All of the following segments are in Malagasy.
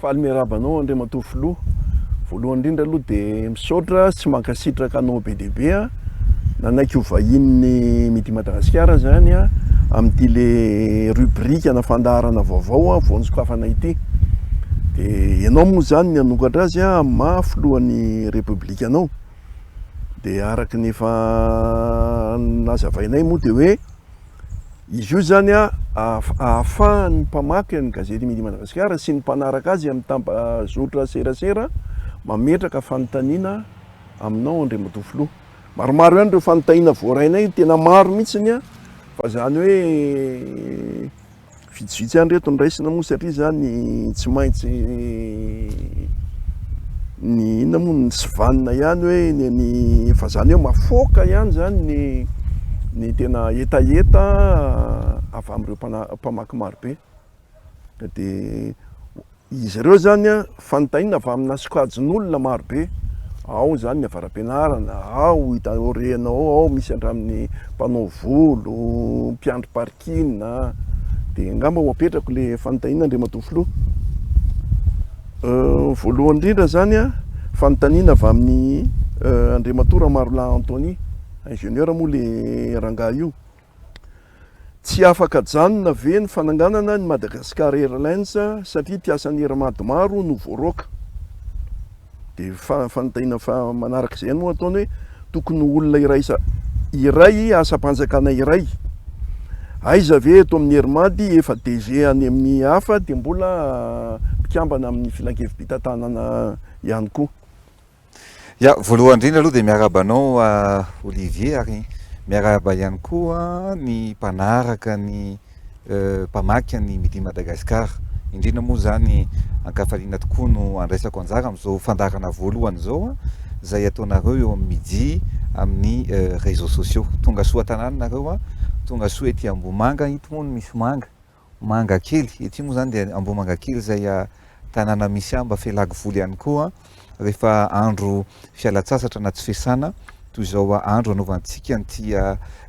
Faly miarahaba anao Andriamatoa Filoha. Voalohany indrindra aloha dia misaotra sy mankasitraka anao be dia be nanaiky ho vahinin'ny Midi Madagasikara izany amin'ity le rubrique ana fandaharana vaovao vao nosokafana ity. Dia ianao moa izany ny hanokatra azy amin'ny maha filohan'ny Repoblika anao. Dia araka ny efa nazavainay moa dia hoe izy io izany ahafahan'ny mpamaky ny gazety Midi Madagasikara sy ny mpanaraka azy amin'ny tambazotra serasera mametraka fanontaniana Aminao Andriamatoa Filoha. Maromaro ihany ireo fanontahiana voarainay, tena maro mihitsy ny ahy, fa izany hoe vitsivitsy ihany ireto no raisina moa satria izany tsy maintsy ny inona moa no tsy vanona ihany hoe ny ny fa izany hoe mafoaka ihany izany ny ny tena hetaheta avy amin'ireo mpamaky marobe. Dia izy ireo izany an, fanontaniana avy amina sokajin'olona maro be, ao izany ny avara-pianarana, ao hita aoriana ao, ao misy hatramin'ny mpanao volo, mpiandry parking, dia angamba ho apetrako ilay fanontaniana Andriamatoa Filoha. Voalohany indrindra izany an, fanontaniana avy amin'ny Andriamatoa Ramarolahy Anthony, ingénieur moa ilay rangahy io, Tsy afaka ajanona ve ny fananganana ny Madagascar Airlines satria mpiasan'ny Irmad maro no voaroaka? Dia fanontaniana manaraka izay no ataony hoe tokony ho olona iray iray asam-panjakana iray aiza ve eto amin'ny Irmad efa DG any amin'ny hafa dia mbola mpikambana amin'ny filankevi-pitantanana ihany koa? Ya, voalohany indrindra aloha dia miarahaba anao Olivier ary miarahaba ihany koa ny mpanaraka ny mpamaky ny Midi Madagascar. Indrindra moa izany ankafaliana tokoa no andraisako anjara amin'izao fandarana voalohany izao izay ataonareo eo amin'ny Midi amin'ny réseaux sociaux. Tonga soa tanàna nareo, tonga soa ety Ambohimanga, ito moa no misy manga. Mangakely, ity moa izany dia Ambohimangakely izay tanàna misy amba felagy voly ihany koa rehefa andro fialan-tsasatra na tsy fiasana toy izao andro anaovantsika an'ity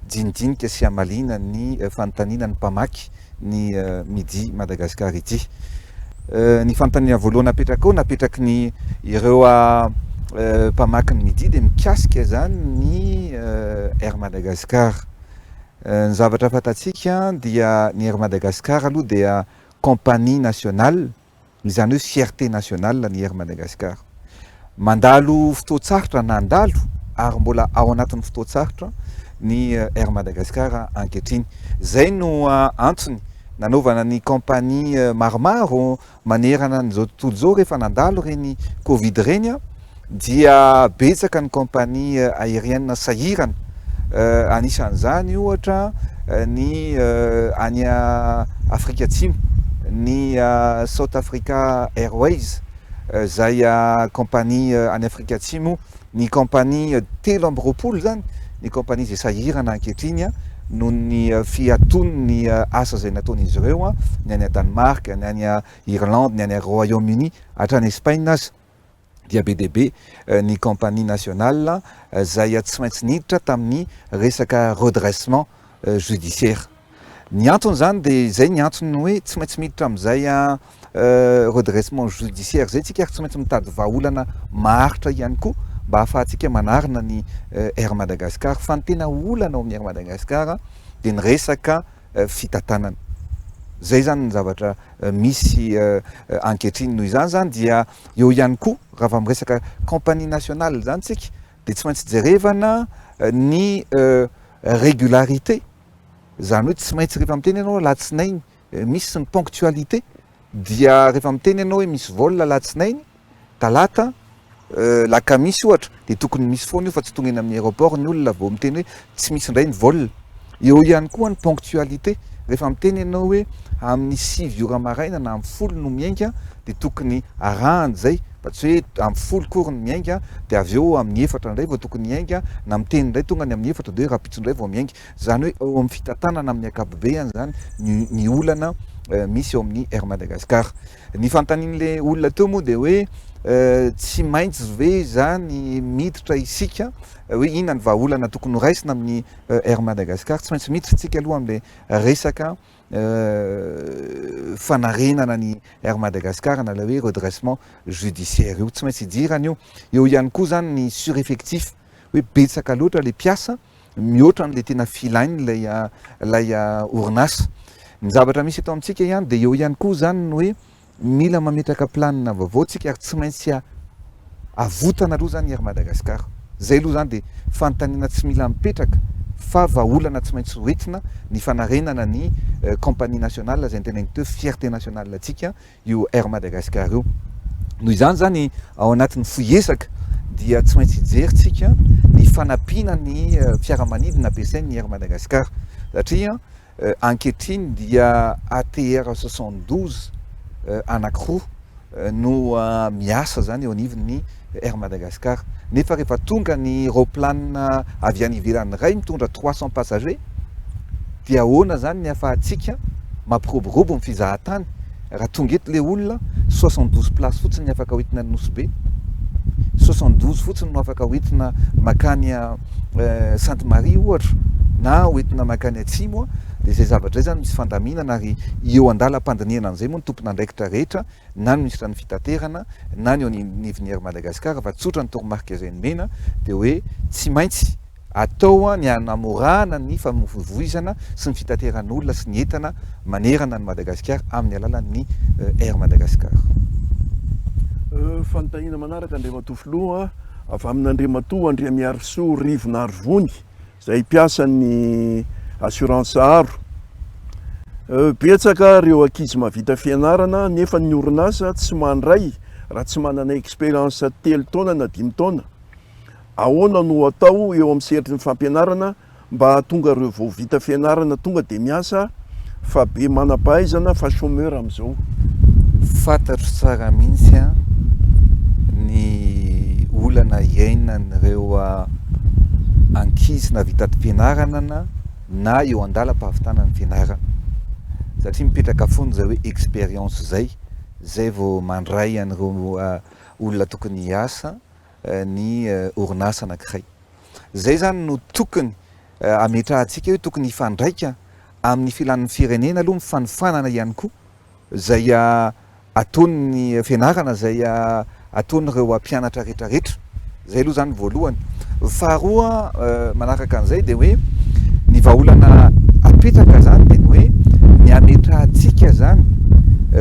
dinidinika sy hamaliana ny fanontaniana ny mpamaky ny Midi Madagascar ity. Ny fanontaniana voalohany apetraka ao napetraky ny ireo mpamaky ny Midi dia mikasika izany ny Air Madagascar. Ny zavatra fantatsika dia ny Air Madagascar aloha dia compagnie nationale, izany hoe fierté nationale ny Air Madagascar. Mandalo fotoan-tsarotra na handalo ary mbola ao anatin'ny fotoan-tsarotra ny Air Madagascar ankehitriny. Izay no antony nanaovana ny compagnie maromaro. Manerana an'izao tontolo izao rehefa nandalo ireny covid ireny dia betsaka ny compagnie aérienne sahirana, anisan'izany ohatra ny any Afrika Atsimo, ny South Africa Airways izay compagnie any Afrika Atsimo. Ny kaompania telo amby roapolo izany, ny kaompania izay sahirana ankehitriny noho ny fiatoan'ny asa izay nataon'izy ireo, ny any Danemark, ny any Irlande, ny any Royaume-Uni, hatrany Espaina aza, dia be dia be ny kaompania nationale izay tsy maintsy niditra tamin'ny resaka redressement judiciaire. Ny anton'izany dia izay ny anton'ny hoe tsy maintsy miditra amin'izay redressement judiciaire izay isika ary tsy maintsy mitady vahaolana maharitra ihany koa mba hahafahantsika manarina ny Air Madagascar fa ny tena olana ao amin'ny Air Madagascar dia ny resaka fitantanana. Izay izany ny zavatra misy ankehitriny noho izany izany dia eo ihany koa raha vao miresaka compagnie nationale izany isika dia tsy maintsy jerevana ny régularité Izany hoe tsy maintsy rehefa miteny ianao alatsinainy misy ny ponctualité dia rehefa miteny ianao hoe misy vol alatsinainy, talata, lakamisy ohatra dia tokony misy foana io fa tsy tonga eny amin'ny aéroport ny olona vao miteny hoe tsy misy indray ny vol. Eo ihany koa ny ponctualité, rehefa miteny ianao hoe amin'ny sivy ora maraina na amin'ny folo no miainga dia tokony arahana izay. fa tsy hoe amin'ny folo akory ny miainga dia avy eo amin'ny efatra indray vao tokony hiainga na miteny indray tonga ny amin'ny efatra dia hoe rahampitso indray vao miainga. Izany hoe eo amin'ny fitantanana amin'ny ankapobeany izany ny ny olana misy eo amin'ny Air Madagascar. Ny fanontanian'ilay olona teo moa dia hoe tsy maintsy ve izany miditra isika hoe inona ny vahaolana tokony ho raisina amin'ny Air Madagascar? Tsy maintsy miditra isika aloha amin'ilay resaka fanarenana ny Air Madagascar na ilay hoe redressement judiciaire io. Tsy maintsy idirany io. Eo ihany koa izany ny sureffectif, hoe betsaka loatra ilay mpiasa, mihoatra an'ilay tena filain'ilay orinasa. Ny zavatra misy eto amintsika ihany dia eo ihany koa izany ny hoe Mila mametraka planina vaovao tsika ary tsy maintsy avotana aloha zany Air Madagascar. Zay aloha zany dia fanontaniana tsy mila mipetraka fa vahaolana tsy maintsy ho entina ny fanarenana ny compagnie nationale zay ntenainy teo fierté nationale antsika io Air Madagascar io. Noho izany zany ao anatin'ny fohy ezaka dia tsy maintsy hijery tsika ny fanampiana ny fiaramanidina ampiasain'ny Air Madagascar satria Ankehitriny dia ATR soixante douze anankiroa no miasa izany eo anivon'ny Air Madagascar. Nefa rehefa tonga ny raoplanina avy any ivelany iray mitondra trois cents passagers dia ahoana izany ny ahafahantsika mampiroborobo ny fizahantany? Raha tonga eto ilay olona, soixante douze places fotsiny ny afaka hoentina any Nosy Be, soixante douze fotsiny no afaka hoentina makany Sainte Marie ohatra, na hoentina makany atsimo, dia izay zavatra izay zany misy fandaminana ary eo andalam-pandinihana an'izay moa ny tompon'andraikitra rehetra, na ny minisitra ny fitaterana, na ny ONIVNIR Madagascar, fa tsotra ny toromarika izay nomena dia hoe tsy maintsy. Atao ny hanamorana ny famoivoizana sy ny fitateran'olona sy ny entana manerana an'i Madagasikara amin'ny alalan'ny Air Madagascar. Fanontaniana manaraka Andriamatoa Filoha, avy amin'Andriamatoa Andriamiharisoa Rivonarivony, izay mpiasan'ny Assurance Aro. Betsaka ireo ankizy mahavita fianarana nefa ny orinasa tsy mandray raha tsy manana expérience telo taona na dimy taona. Ahoana no atao eo amin'ny sehatry ny fampianarana mba hahatonga ireo vao vita fianarana tonga dia miasa fa be manam-pahaizana fa chômeur amin'izao? Fantatro tsara mihitsy ny olana iainan'ireo ankizy na vita taom-pianarana na eo an-dalam-pahavitana ny fianarana satria mipetraka foana izay hoe expérience izay, izay vao mandray an'ireo olona tokony hiasa ny orinasa anankiray. Izay izany no tokony hametrahantsika hoe tokony hifandraika amin'ny filan'ny firenena aloha ny fanofanana ihany koa izay ataon'ny fianarana, izay ataon'ireo mpianatra rehetra rehetra. Izay aloha izany voalohany. Faharoa. manaraka an'izay dia hoe ny vahaolana apetraka izany dia ny hoe ny hametrahantsika izany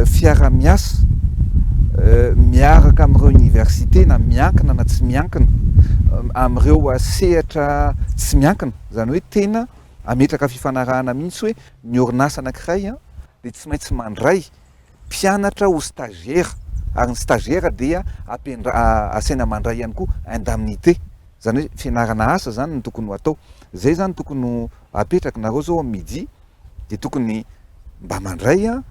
fiara-miasa miaraka amin'ireo université na miankina na tsy miankina amin'ireo sehatra tsy miankina izany hoe tena ametraka fifanarahana mihitsy hoe ny orinasa anankiray dia tsy maintsy mandray mpianatra ho stagiaire ary ny stagiaire dia ampendra asaina mandray ihany koa indemnité zany hoe fianarana asa zany no tokony ho atao zay zany tokony ho apetraky nareo zao am midi de tokony mba mandray a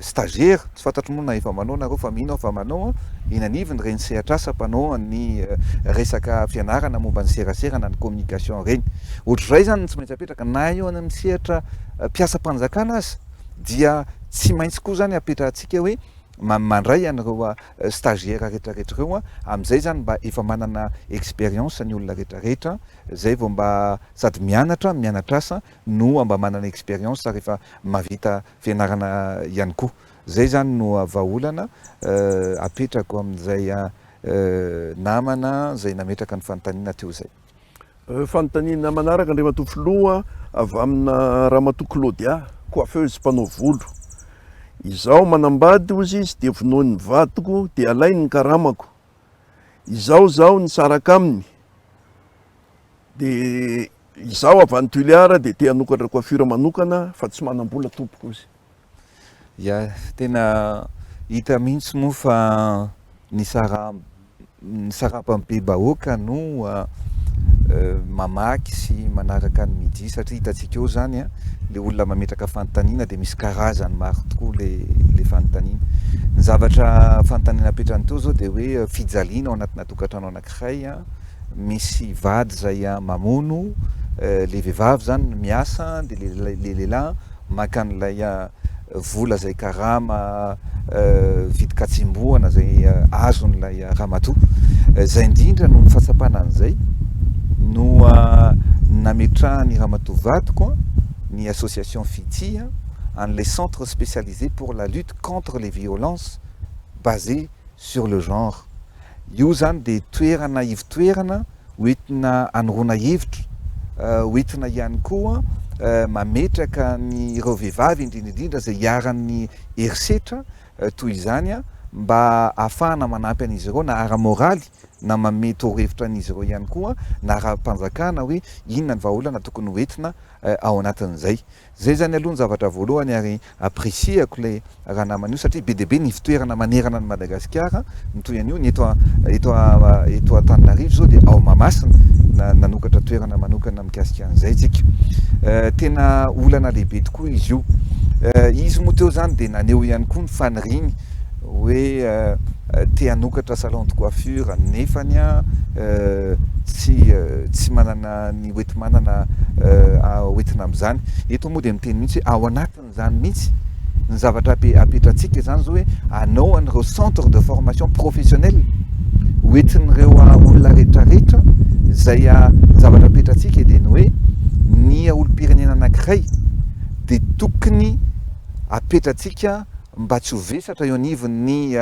stagiaire tsy fantatro moa na efa manao nareo fa mino aho fa manao a eny anivony ireny sehatr'asa mpanao ny resaka fianarana momba ny serasera na ny communication ireny ohatr'izay zany no tsy maintsy apetraka na eo any amin'ny sehatra mpiasam-panjakana aza dia tsy maintsy koa zany apetrahantsika hoe mandray an'ireo stagiaires retraretra ireo amin'izay zany mba efa manana expérience ny olona retraretra zay vao mba sady mianatra mianatra asa no mba manana expérience ary efa mavita fianarana ihany koa zay zany no vahaolana apetrako amin'izay namana zay nametraka ny fanontaniana teo zay Fanontaniana manaraka Andriamatoa Filoha avy amina Ramatoa Claudia, coiffeuse, mpanao volo. Izaho manambady hozy izy dia vonoin'ny vadiko dia alainy ny karamako. Izaho izaho nisaraka aminy dia izaho avy any Tuléar dia te hanokatra coiffure manokana fa tsy manam-bola tompoko hozy. Ya, tena hita mihitsy moa fa ny saraham ny sarabam be bahoaka no mamaky sy manaraka ny media satria hitantsika eo zany a le olona mametraka fanontaniana de misy karazany maro tokoa le le fanontaniana ny zavatra fanontaniana apetrany teo zao de hoe fijaliana ao anatina tokantrano anankiray a misy vady zay a mamono le vehivavy zany miasa de le lehilahy maka an'ilay vola izay karama vidin-katsembohana izay azon'ilay ramatoa. Izay indrindra no fahatsapana an'izay no nametrahan'ny ramatoa vadiko ny association Fitia an'ilay centre spécialisé pour la lutte contre les violences basées sur le genre. Io izany dia toerana ivotoerana ho entina anoroana hevitra, ho entina ihany koa mametraka ny ireo vehivavy indrindra indrindra izay iharan'ny herisetra toy izany mba ahafahana manampy an'izy ireo na ara-moraly na mamehy torohevitra an'izy ireo ihany koa na ara-panjakana hoe inona ny vahaolana tokony ho entina ao anatin'izay. Zay zany aloha ny zavatra voalohany ary appreciako le ranamana io satria be dia be ny ivontoerana manerana an'i Madagasikara ny toy an'io, ny eto eto eto Antananarivo zao dia ao Mahamasina na nanokatra toerana manokana mikasika an'izay tsika. Tena olana lehibe tokoa izy io. Izy moa teo zany dia naneho ihany koa ny faniriany hoe te hanokatra salon de coiffure nefany tsy tsy manana ny hoenti-manana hoentina amin'izany. Eto moa dia miteny mihitsy hoe ao anatin'izany mihitsy ny zavatra apetratsika izany izao hoe anao an'ireo centre de formation professionnelle hoentin'ireo olona rehetrarehetra izay zavatra apetratsika dia ny hoe ny olom-pirenena anankiray dia tokony apetratsika mba tsy ho vesatra eo anivon'ny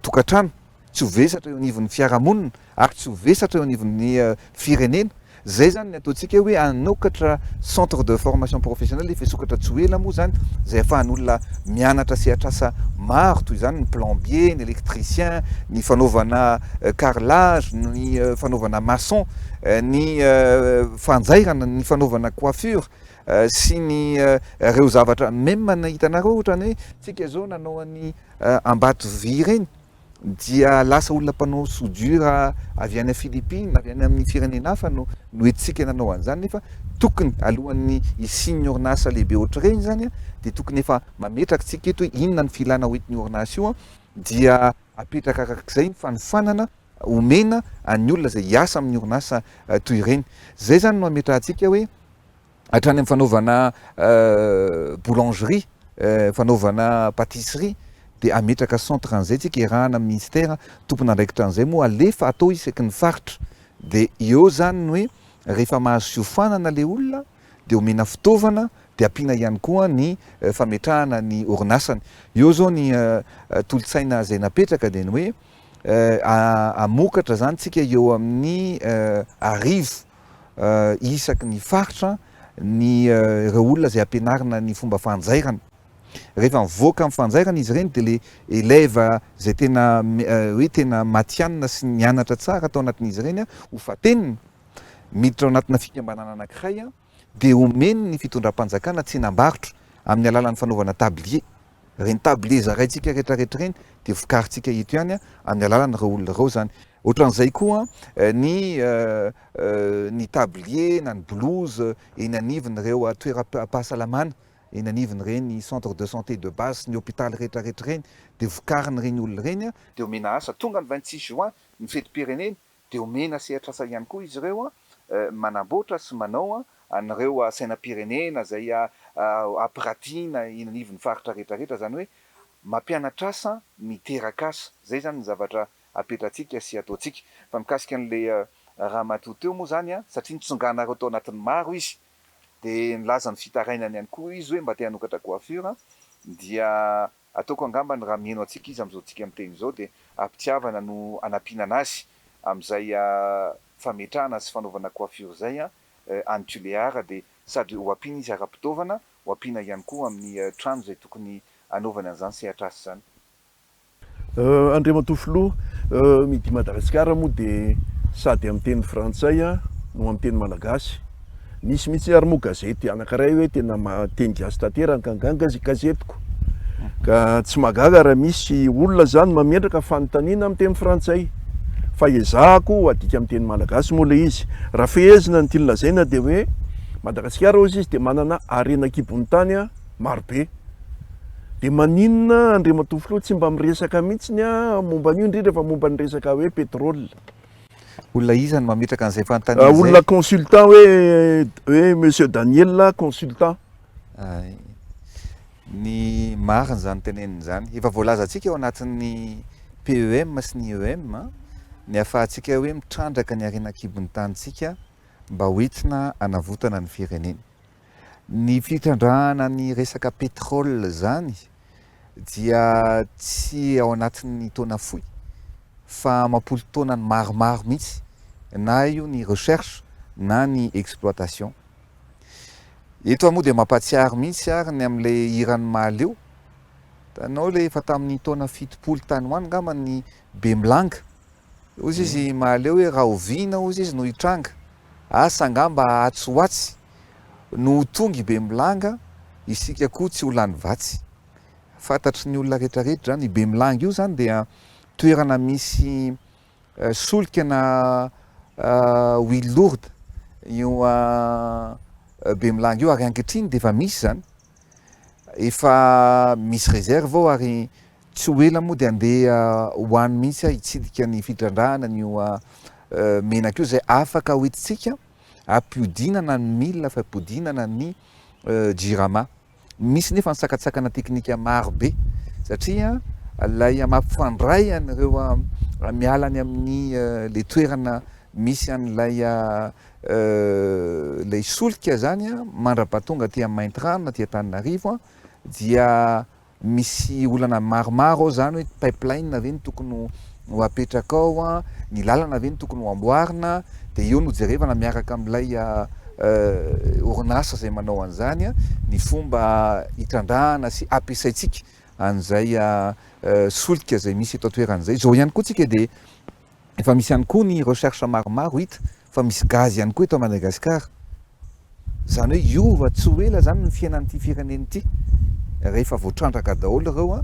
tokantrano, tsy ho vesatra eo anivon'ny fiarahamonina ary tsy ho vesatra eo anivon'ny firenena. Izay izany ny ataontsika hoe hanokatra centre de formation professionnelle, efa hisokatra tsy ho ela moa izany, izay ahafahan'olona mianatra sehatr'asa maro toy izany ny plombier, ny électricien, ny fanaovana carrelage, ny fanaovana maçon, ny fanjairana, ny fanaovana coiffure sy ny ireo zavatra, même na hitanareo ohatra ny hoe tsika izao nanao an'i Ambatovy ireny dia lasa olona mpanao soudure avy any Philippines, avy any amin'ny firenena hafa no no hetsika nanao an'izany nefa tokony alohan'ny hisian'ny orinasa lehibe ohatr'ireny izany dia tokony efa mametraka isika eto hoe inona no filana ho entin'io orinasa io dia apetraka arak'izay ny fanofanana omena an'ny olona izay hiasa amin'ny orinasa toy ireny. Izay izany no hametrahantsika hoe Hatrany amin'ny fanaovana boulangerie, fanaovana patisserie dia hametraka centre an'izay tsika iarahana amin'ny ministera tompon'andraikitra an'izay moa alefa atao isaky ny faritra dia eo zany ny hoe rehefa mahazo fiofanana le olona dia omena fitaovana dia ampiana ihany koa ny fametrahana ny orinasany eo zao ny tolotsaina izay napetraka dia ny hoe hamokatra zany tsika eo amin'ny arivo isaky ny faritra ny ireo olona izay ampianarina ny fomba fanjairana. Rehefa mivoaka amin'ny fanjairana izy ireny dia ilay élève izay tena hoe tena matihanina sy nianatra tsara tao anatin'izy ireny ho fatenina, miditra ao anatina fikambanana anankiray dia omeny ny fitondram-panjakana tsenam-barotra amin'ny alalan'ny fanaovana tablier. Ireny tablier zaraintsika rehetrarehetra ireny dia vokarintsika eto ihany amin'ny alalan'ireo olona ireo izany. Ohatran'izay koa ny ny tablier na ny blouse eny anivon'ireo toeram-pahasalamana, eny anivon'ireny centre de santé de base sy ny hôpital rehetrarehetra ireny dia vokarin'ireny olona ireny, dia omena asa, tonga ny vingt six juin ny fetim-pirenena dia omena sehatr'asa ihany koa izy ireo manamboatra sy manao an'ireo sainam-pirenena izay hampiratiana eny anivon'ny faritra rehetrarehetra, izany hoe mampianatra asa miteraka asa, izay izany ny zavatra apetratsika sy ataontsika. Fa mikasika an'ilay ramatoa teo moa izany an, satria nitsonganareo tao anatin'ny maro izy, dia nilaza ny fitarainany ihany koa izy hoe mba te hanokatra coiffure, dia ataoko angambany raha mihaino antsika izy amin'izao tsika miteny izao dia ampitiavana no anampiana anazy amin'izay fametrahana sy fanaovana coiffure izay an, any Tuléar dia sady ho ampiana izy ara-pitaovana, ho ampiana ihany koa amin'ny trano izay tokony hanaovany an'izany sehatr'asa izany. Andriamatoa Filoha, Midi Madagascar moa dia sady amin'ny teny frantsay no amin'ny teny malagasy. Nisy mihitsy ary moa gazety anankiray hoe tena teny gasy tanteraka angamba izay gazetiko. Ka tsy mahagaga raha misy olona izany mametraka fanontaniana amin'ny teny frantsay fa ezahako adika amin'ny teny malagasy moa ilay izy. Raha fehezina ny tiany lazaina dia hoe Madagasikara hoy izy dia manana harena an-kibon'ny tany. marobe. Dia maninona Andriamatoa Filoha tsy mba miresaka mihitsiny momba an'io, indrindra fa momba ny resaka hoe pétrole. Olona iza no mametraka an'izay fanontaniana izay? Olona consultant hoe hoe Monsieur Daniel consultant. Ay. Ny marina izany teneniny izany. Efa voalazantsika ao anatin'ny PEM sy ny EEM ny ahafahantsika hoe mitrandraka ny harena an-kibon'ny tanintsika mba hoentina hanavotana ny firenena. Ny fitrandrahana ny resaka pétrole izany dia tsy ao anatin'ny taona fohy fa amam-polo taonany maromaro mihitsy na io ny recherche na ny exploitation. Eto aho moa dia mampahatsiaro mihitsy ary ny amin'ilay hiran'i Mahaleo, hitanao ilay efa tamin'ny taona fitopolo tany ho any angamba ny Bemilanga, hozy izy Mahaleo hoe rahoviana hozy izy no hitranga, asa angamba atsy ho atsy no ho tonga i Bemilanga, isika koa tsy ho lany vatsy. Fantatry ny olona rehetra rehetra izany. I Bemilanga io izany dia toerana misy solika na huile lourde io Bemilanga io ary ankehitriny dia efa misy izany. Efa misy réserve ao ary tsy ho ela moa dia handeha ho any mihitsy aho hitsidika ny fitrandrahana an'io menaka io izay afaka hoentintsika. ampihodinana ny milina fampihodinana ny Jirama. Misy nefa ny sakantsakana teknika maro be satria ilay mampifandray an'ireo miala any amin'ny le toerana misy an'ilay ilay solika zany mandra-pahatonga aty Maintirano na aty Antananarivo dia misy olana maromaro ao zany hoe pipeline ve no tokony ho apetraka ao an, ny lalana ve no tokony ho amboarina dia eo no jerevana miaraka amin'ilay orinasa izay manao an'izany an, ny fomba hitrandrahana sy hampiasaintsika an'izay solika izay misy eto an-toerana izay, izao ihany koa tsika dia. Efa misy ihany koa ny recherche maromaro hita fa misy gaz ihany koa eto Madagascar. Izany hoe hiova tsy ho ela izany ny fiainan'ity firenena ity rehefa voatrandraka daholo ireo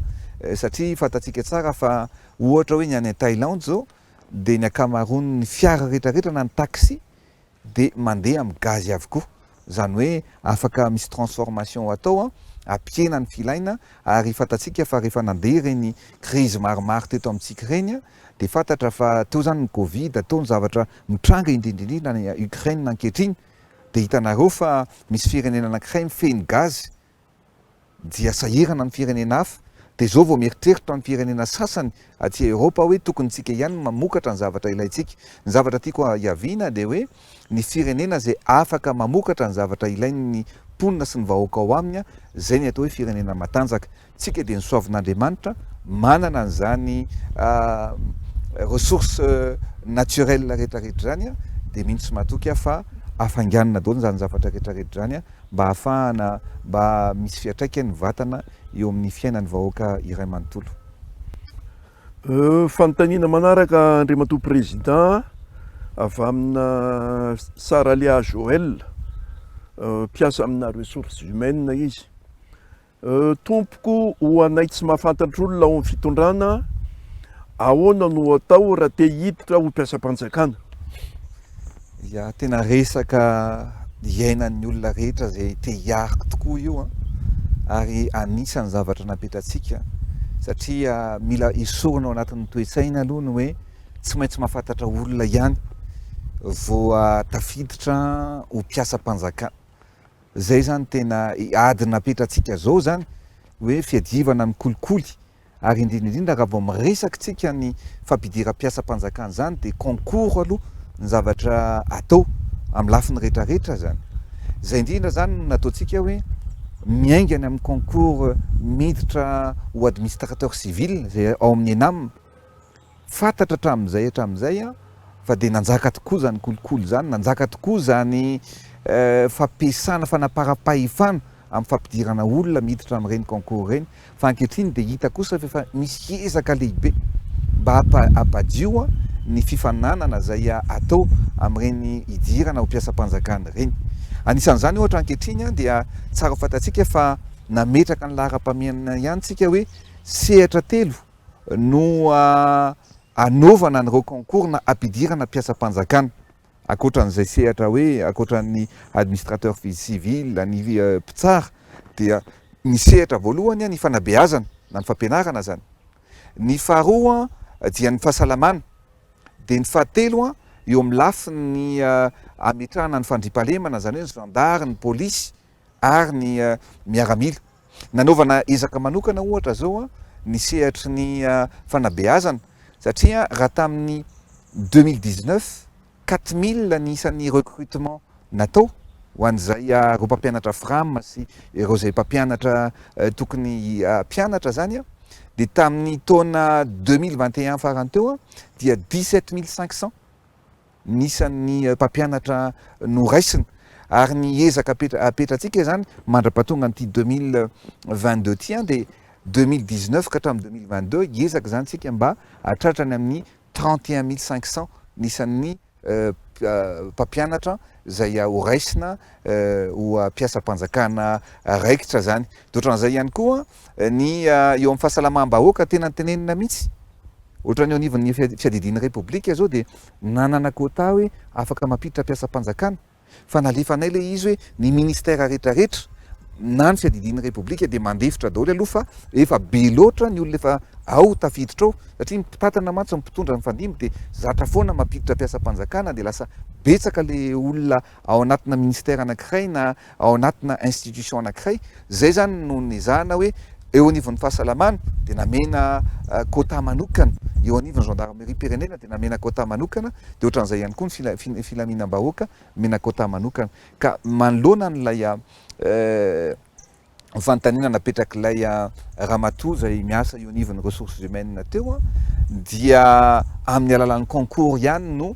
satria fantatsika tsara fa ohatra hoe ny any Thailand izao dia ny ankamaroan'ny fiara rehetra rehetra na ny taxi dia mandeha amin'ny gazy avokoa, izany hoe afaka misy transformation atao hampihena ny filaina ary fantatsika fa rehefa nandeha ireny crise maromaro teto amintsika ireny dia fantatra fa teo izany ny covid, teo ny zavatra mitranga indrindra indrindra any Ukraine ankehitriny dia hitanareo fa misy firenena anankiray mifehy ny gazy dia sahirana ny firenena hafa, dia izao vao mieritreritra ny firenena sasany aty Eoropa hoe tokony isika ihany no mamokatra ny zavatra ilaintsika. Ny zavatra tiako hiaviana dia hoe ny firenena izay afaka mamokatra ny zavatra ilain'ny mponina sy ny vahoaka ao aminy, izay ny atao hoe firenena matanjaka. Tsika dia ny soavin'Andriamanitra manana an'izany ressources naturelles rehetrarehetra izany dia mino sy matoky aho fa hafainganina daholo izany zavatra rehetrarehetra izany. mba hahafahana mba misy fiatraikany ny vatana eo amin'ny fiainan'ny vahoaka iray manontolo. Fanontaniana manaraka Andriamatoa Prezidà avy amina Saralea Joël, mpiasa amina ressources humaines izy. Tompoko ho anay tsy mahafantatr'olona ao amin'ny fitondrana, ahoana no atao raha te hiditra ho mpiasam-panjakana? Ya, tena resaka iainan'ny olona rehetra izay te hiariko tokoa io an, ary anisan'ny zavatra napetratsika satria mila esorina ao anatin'ny toe-tsaina aloha ny hoe tsy maintsy mahafantatra olona ihany vao tafiditra ho mpiasam-panjakana. Zay zany tena ady napetratsika zao zany hoe fiadivana ny kolikoly ary indrindra indrindra raha vao miresak tsika ny fampidiram piasam panjakana zany dia concours aloha ny zavatra atao am lafiny rehetra rehetra zany zay indrindra zany no nataontsika hoe miainga any am concours miditra ho administrateur civil zay ao am ny enam Fantatra hatramin'izay hatramin'izay fa dia nanjaka tokoa izany kolikoly izany, nanjaka tokoa izany fampiasana fanaparam-pahefana amin'ny fampidirana olona miditra amin'ireny concours ireny, fa ankehitriny dia hita kosa fa efa misy ezaka lehibe mba hampadio ny fifaninanana izay atao amin'ireny hidirana ho mpiasam-panjakana ireny. Anisan'izany ohatra ankehitriny dia tsara ho fantatsika fa nametraka ny laharam-pahamehana ihany isika hoe sehatra telo no anaovana an'ireo concours na ampidirana mpiasam-panjakana, ankoatra an'izay sehatra hoe, ankoatra ny administrateur civil, ny mpitsara, dia ny sehatra voalohany ny fanabeazana na ny fampianarana izany, ny faharoa dia ny fahasalamana, dia ny fahatelo eo amin'ny lafiny hametrahana ny fandriampahalemana, izany hoe ny zandary, ny polisy, ary ny miaramila. Nanaovana ezaka manokana ohatra zao ny sehatry ny fanabeazana satria raha tamin'ny deux mille dix neuf, quatre mille ny isan'ny recrutement natao ho an'izay ireo mpampianatra fram sy ireo izay mpampianatra tokony hampianatra zany dia tamin'ny taona deux mille vingt et un farany teo dia dix sept mille cinq cents. ny isan'ny mpampianatra noraisina ary ny ezaka apetratsika izany mandrapatonga an'ity deux mille vingt deux ty an dia deux mille dix neuf ka hatramin'ny deux mille vingt deux hiezaka izany tsika mba hatratra any amin'ny trente et un mille cinq cents ny isan'ny mpampianatra izay horaisina ho mpiasam-panjakana raikitra izany dia ohatran'izay ihany koa Ny eo amin'ny fahasalamam-bahoaka tena tenenina mihitsy. Ohatran'ny eo anivon'ny fiadidian'ny Repoblika izao dia nanana quota hoe afaka mampiditra mpiasam-panjakana. Fa nalefanay ilay izy hoe ny ministère rehetra rehetra na ny fiadidian'ny Repoblika dia mandefitra daholo aloha fa efa be loatra ny olona efa ao tafiditra ao. Satria ny mpitantana mantsy, ny mpitondra mifandimby dia zatra foana mampiditra mpiasam-panjakana dia lasa betsaka ilay olona ao anatina ministère anankiray na ao anatina institution anankiray, izay izany no nezahana hoe eo anivon'ny fahasalamana dia namena quota manokana, eo anivon'ny gendarmerie-mpirenena dia namena quota manokana, dia ohatran'izay ihany koa ny filaminam-bahoaka nomena quota manokana. Ka manoloana an'ilay fanontaniana napetrak'ilay ramatoa izay miasa eo anivon'ny ressources humaines teo dia amin'ny alalan'ny concours ihany no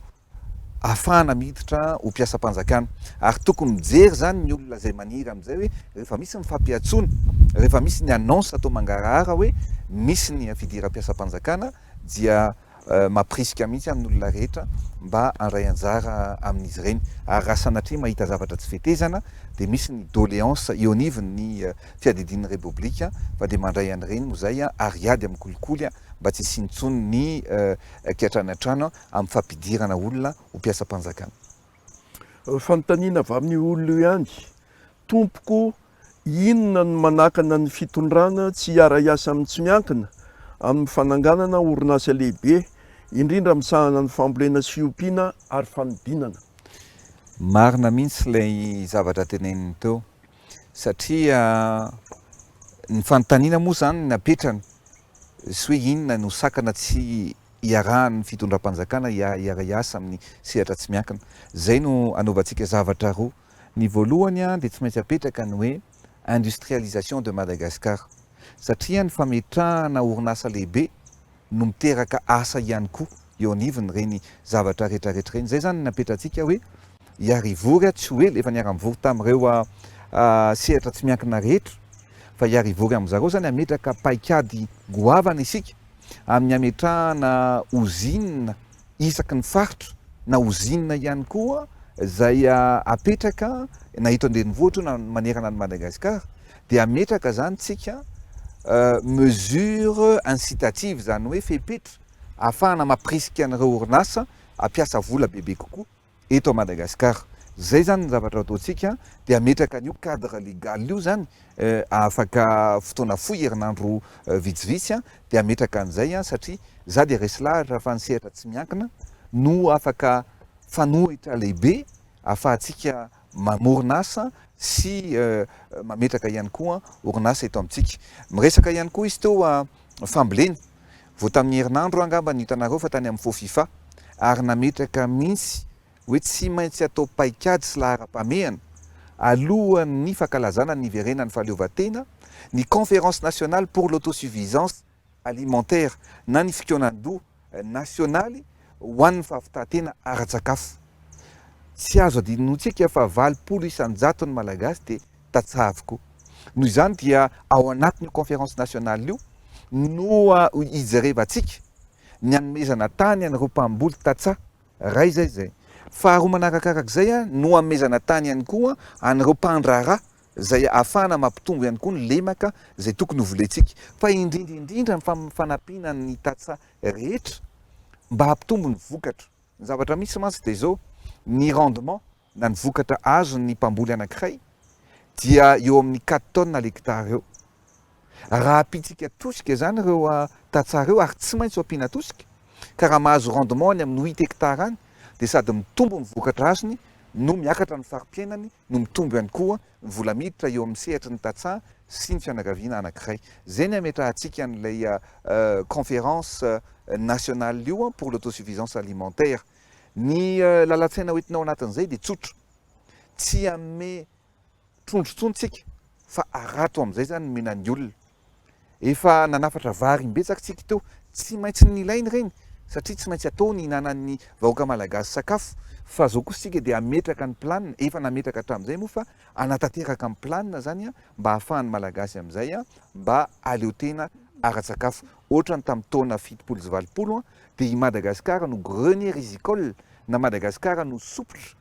afahana miditra ho mpiasam-panjakana. Ary tokony mijery izany ny olona izay maniry amin'izay hoe rehefa misy ny fampiantsoana, rehefa misy ny annonce atao mangarahara hoe misy ny fidiram-piasam-panjakana dia mampirisika mihitsy amin'ny olona rehetra mba handray anjara amin'izy ireny. Ary raha sanatria mahita zavatra tsy fetezana dia misy ny doléance eo anivon'ny Fiadidian'ny Repoblika fa dia mandray an'ireny moa izay ary hiady amin'ny kolikoly mba tsy hisian'ny intsony ny kiatranatrana amin'ny fampidirana olona ho mpiasam-panjakana. Fanontaniana avy amin'ny olona io ihany, Tompoko, inona no manakana ny fitondrana tsy hiara-hiasa amin'ny tsy miankina amin'ny fananganana orinasa lehibe, indrindra misahana ny fambolena sy fiompiana ary fanodinana? Marina mihitsy ilay zavatra teneniny teo, satria ny fanontaniana moa izany napetrany, sy hoe inona no sakana tsy iarahan'ny fitondram-panjakana hiara-hiasa amin'ny sehatra tsy miankina. Izay no anaovantsika zavatra roa. Ny voalohany dia tsy maintsy apetraka ny hoe industrialisation de Madagascar. Satria ny fametrahana orinasa lehibe no miteraka asa ihany koa eo anivon'ireny zavatra rehetrarehetra ireny. Izay izany no napetratsika hoe Iarivory aho tsy ho ela, efa niara-nivory tamin'ireo sehatra tsy miankina rehetra, fa Iarivory amin'izareo izany hametraka paikady goavana isika. amin'ny hametrahana ozinina isaky ny faritra na ozinina ihany koa izay apetraka na eto an-drenivohitra io na manerana an'i Madagasikara dia ametraka izany isika mesure incitative izany hoe fepetra ahafahana mampirisika an'ireo orinasa hampiasa vola bebe kokoa. eto Madagascar. Zay zany ny zavatra ataontsika de ametraka an'io cadre legal io zany afaka fotoana fohy herinandro vitsivitsy de ametraka an'izay satria za de resy lahatra fa ny sehatra tsy miankina no afaka fanohitra lehibe afahantsika mamorona asa sy mametraka ihany koa orinasa eto amintsika. Miresaka ihany koa izy teo fambolena Vao tamin'ny herinandro angamba no hitanareo fa tany amin'ny Fofifa ary nametraka mihitsy hoe tsy maintsy atao paikady sy laharam-pahamehana alohan'ny fankalazana ny niverenan'ny fahaleovantena ny Conférence nationale pour l'autosuffisance alimentaire na ny fikaonan-doha nasionaly ho an'ny fahavitan-tena ara-tsakafo. Tsy azo adinontsika fa valopolo isan-jaton'ny Malagasy dia tantsaha avokoa. Noho izany dia ao anatin'io conférence nationale io no hijerevantsika ny hanomezana tany an'ireo mpamboly tantsaha, iray izay izay. Faharoa manarakarak'izay no hanomezana tany ihany koa an'ireo mpandraharaha izay ahafahana mampitombo ihany koa ny lemaka izay tokony ho volentsika. Fa indrindra indrindra ny fanampiana ny tantsaha rehetra mba hampitombo ny vokatra. Ny zavatra misy mantsy dia izao, ny rendement. na ny vokatra azon' ny mpamboly anankiray dia eo amin' ny quat tonnes al-hectare eo. Raha ampitsika tosika izany ireo tantsaha ireo, ary tsy maintsy ho ampiana tosika, ka raha mahazo rendement any amin' ny huit hectares any dia sady mitombo ny vokatra azony no miakatra ny fari-piainany no mitombo ihany koa ny vola miditra eo amin' ny sehatry ny tantsaha sy ny fianakaviana anankiray. Izay ny hametrahantsika an' ilay conférence nationale io pour l'autosuffisance alimentaire. Ny lalan-tsaina ho entina ao anatin'izay dia tsotra, tsy hanome trondro intsony tsika fa harato amin'izay izany ny menan'ny olona. Efa nanafatra vary imbetsaka tsika teo, tsy maintsy nilainy ireny satria tsy maintsy atao ny hihinanan'ny vahoaka malagasy sakafo fa izao kosa isika dia hametraka ny plan, efa nametraka hatramin'izay moa fa hanatanteraka ny plan izany mba hahafahan'ny malagasy amin'izay mba haleo tena ara-tsakafo. Ohatrany tamin'ny taona fitopolo sy valopolo Dia i Madagasikara no grenier rizicole na Madagasikara no sompitra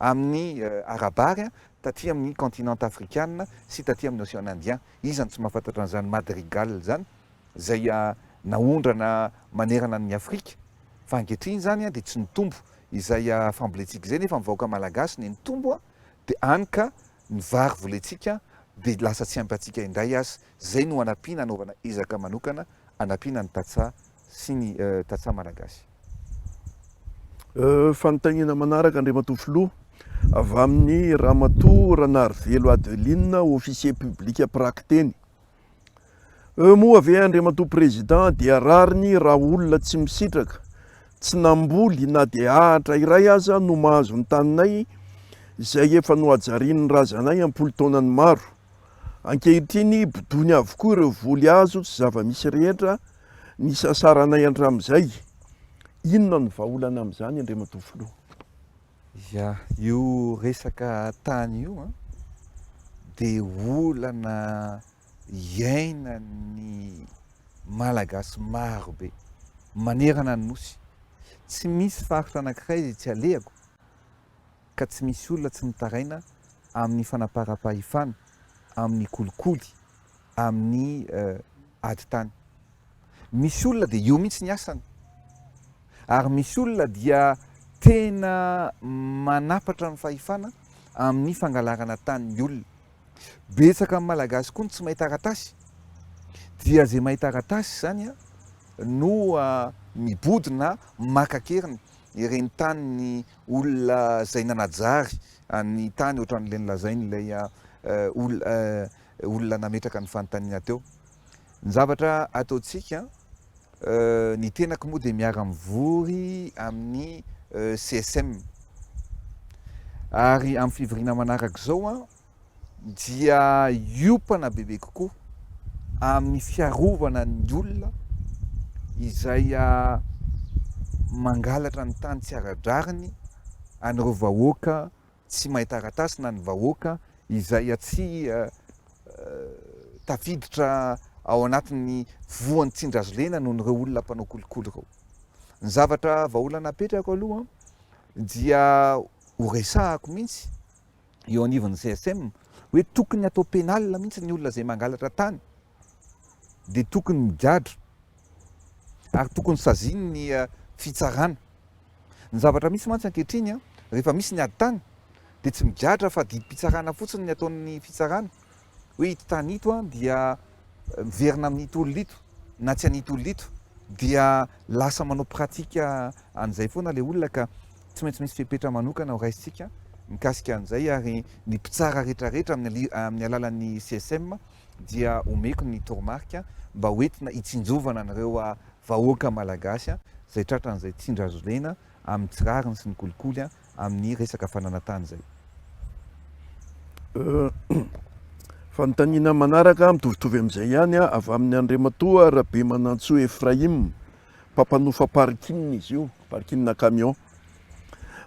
amin'ny ara-bary taty amin'ny continent afrikana sy taty amin'ny ocean indien. Iza no tsy mahafantatra an'izany Madrigal izany izay naondrana manerana an'i Afrika fa ankehitriny izany dia tsy nitombo izay fambolentsika izay nefa ny vahoaka malagasy no nitombo dia any ka ny vary volentsika dia lasa tsy ampy antsika indray aza. Izay no anampiana anaovana ezaka manokana anampiana ny tantsaha sy ny tantsaha malagasy. Fanontaniana manaraka Andriamatoa Filoha, avy amin'ny Ramatoa Ranarivelo Adeline, Officier Public Mpiraki-teny. Moa ve Andriamatoa Président dia rariny raha olona tsy misitraka, tsy namboly na dia ahatra iray aza no mahazo ny taninay izay efa nohajarian'ny razanay am-polo-taonany maro? Ankehitriny bodony avokoa ireo voly azo sy zava-misy rehetra Nisasaranay andramizay. Inona no vahaolana amin'izany Andriamatoa Filoha? Ya, io resaka tany io an, dia olana iainan'ny Malagasy maro be manerana ny Nosy. Tsy misy faritra anankiray izay tsy alehako ka tsy misy olona tsy mitaraina amin'ny fanaparam-pahefana, amin'ny kolikoly. amin'ny ady tany. Misy olona dia eo mihitsy ny asany, ary misy olona dia tena manapatra ny fahefana amin'ny fangalarana tany ny olona. Betsaka amin'ny Malagasy koa ny tsy mahay taratasy, dia izay mahay taratasy izany a, no mibodo na maka an-keriny ireny tanin'ny olona izay nanajary ny tany, ohatran'ilay nolazain'ilay olona olona nametraka ny fanontaniana teo. Ny zavatra ataontsika, ny tenako moa dia miara-mivory amin'ny CSM. Ary amin'ny fivoriana manaraka izao dia hiompana bebe kokoa amin'ny fiarovana ny olona izay mangalatra ny tany tsy ara-drariny an'ireo vahoaka Tsy mahay taratasy na ny vahoaka izay tsy tafiditra ao anatin'ny voan'ny tsindrazolena noho ireo olona mpanao kolikoly ireo. Ny zavatra vahaolana apetrako aloha dia ho resahako mihitsy eo anivon'ny CSM hoe tokony atao pénal mihitsy ny olona izay mangalatra tany dia tokony migadra ary tokony saziany ny fitsarana. Ny zavatra misy mantsy ankehitriny rehefa misy ny ady tany dia tsy migadra fa didim-pitsarana fotsiny ny ataon'ny fitsarana hoe ito tany ito dia miverina amin'ito olona ito na tsy an'ito olona ito dia lasa manao pratique an'izay foana ilay olona ka tsy maintsy misy fepetra manokana ho raisintsika mikasika an'izay ary ny mpitsara rehetra rehetra amin'ny alalan'ny CSM dia omeko ny toromarika mba ho entina hitsinjovana an'ireo vahoaka malagasy izay tratran'izay tsindrin-drazolena amin'ny tsy rariny sy ny kolikoly amin'ny resaka fananan-tany izay. Fanontaniana manaraka mitovitovy amin'izay ihany avy amin'ny Andriamatoa Rabemanantsoa Ephraim, mpampanofa parking izy io, parking camion.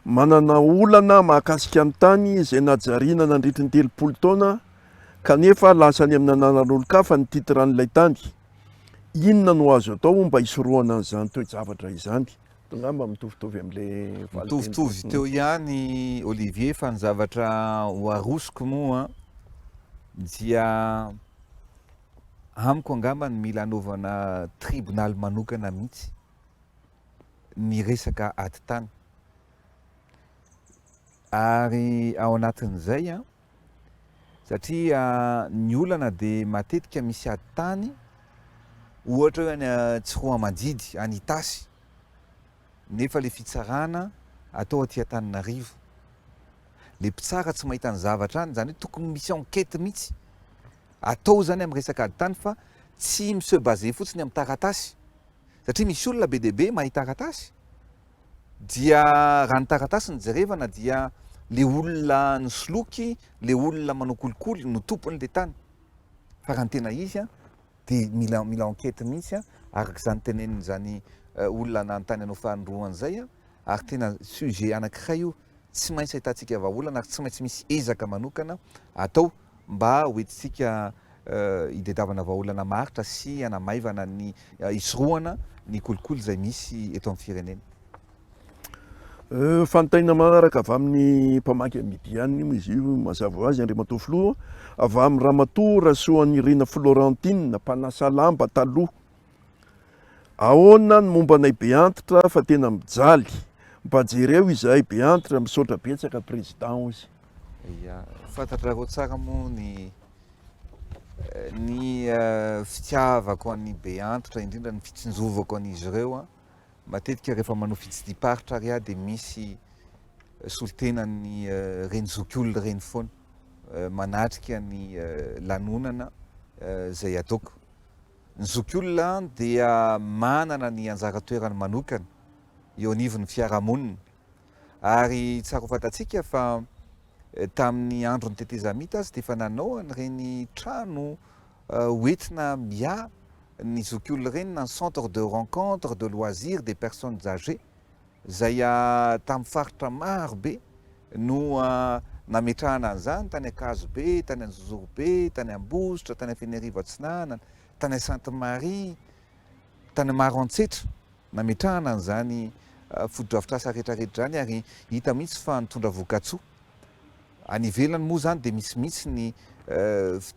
Manana olana mahakasika ny tany izay najariana nandritry ny telopolo taona, kanefa lasa any amin'ny ananan'olon-kafa ny titran'ilay tany. Inona no azo atao hoy mba hisorohana an'izany toe-javatra izany? Angamba mitovitovy amin'ilay valinteny taloha. Mitovitovy teo ihany Olivier fa ny zavatra ho arosoko moa dia amiko angamba ny mila anaovana tribonaly manokana mihitsy ny resaka ady tany. Ary ao anatin'izay Satria ny olana dia matetika misy ady tany, ohatra hoe any Tsiroamanjidy, any Itasy, nefa ilay fitsarana atao aty Antananarivo. Ilay mpitsara tsy mahita ny zavatra any, izany hoe tokony misy enquête mihitsy atao izany amin'ny resaka ady tany fa tsy mi-se baser fotsiny amin'ny taratasy. Satria misy olona be dia be mahay taratasy, dia raha ny taratasy no jerevana dia le olona nisoloky le olona manao kolikoly no tompony le tany fa raha ny tena izy an de mila mila enquete mihitsy an araka izany tenenin'izany olona nanontany anao fahandroany zay an ary tena sujet anankiray io tsy maintsy ahitantsika vahaolana ary tsy maintsy misy ezaka manokana atao mba hoentintsika hidedavana vahaolana maharitra sy hanamaivana ny hisorohana ny kolikoly izay misy eto amin'ny firenena. Fanontaniana manaraka avy amin'ny mpamaky ny diany moa izy io mazava ho azy Andriamatoa Filoha, avy amin'ny Ramatoa Rasoanirina Florentine, mpanasa lamba taloha. Aona ny momba anay be antitra fa tena mijaly mba jereo izahay be antitra misaotra betsaka président hozy. Ya, fantatrareo tsara moa ny eh, ny eh, fitiavako an'ny be antitra, indrindra ny fitsinjovako an'izy ireo. Ah. Matetika rehefa manao fitsidiam-paritra ary aho dia misy eh, solontenan'ny eh, reny zokiolona reny foana eh, manatrika ny eh, lanonana eh, izay ataoko. Ny zokiolona dia manana ny anjara toerany manokana eo anivon'ny fiarahamonina ary tsara ho fantatsika fa tamin'ny andron'ny tetezamita aza dia efa nanao an'ireny trano hoentina miahy ny zokiolona ireny na centre de rencontre, de loisir des personnes âgées izay tamin'ny faritra maro be no nametrahana an'izany, tany Ankazobe, tany Anjozorobe, tany Ambositra, tany Anfenerivo Atsinanana, tany Sainte Marie, tany Maroantsetra, nametrahana an'izany fotodrafitrasa rehetrarehetra izany ary hita mihitsy fa nitondra vokatsoa. Any ivelany moa izany dia misy mihitsy ny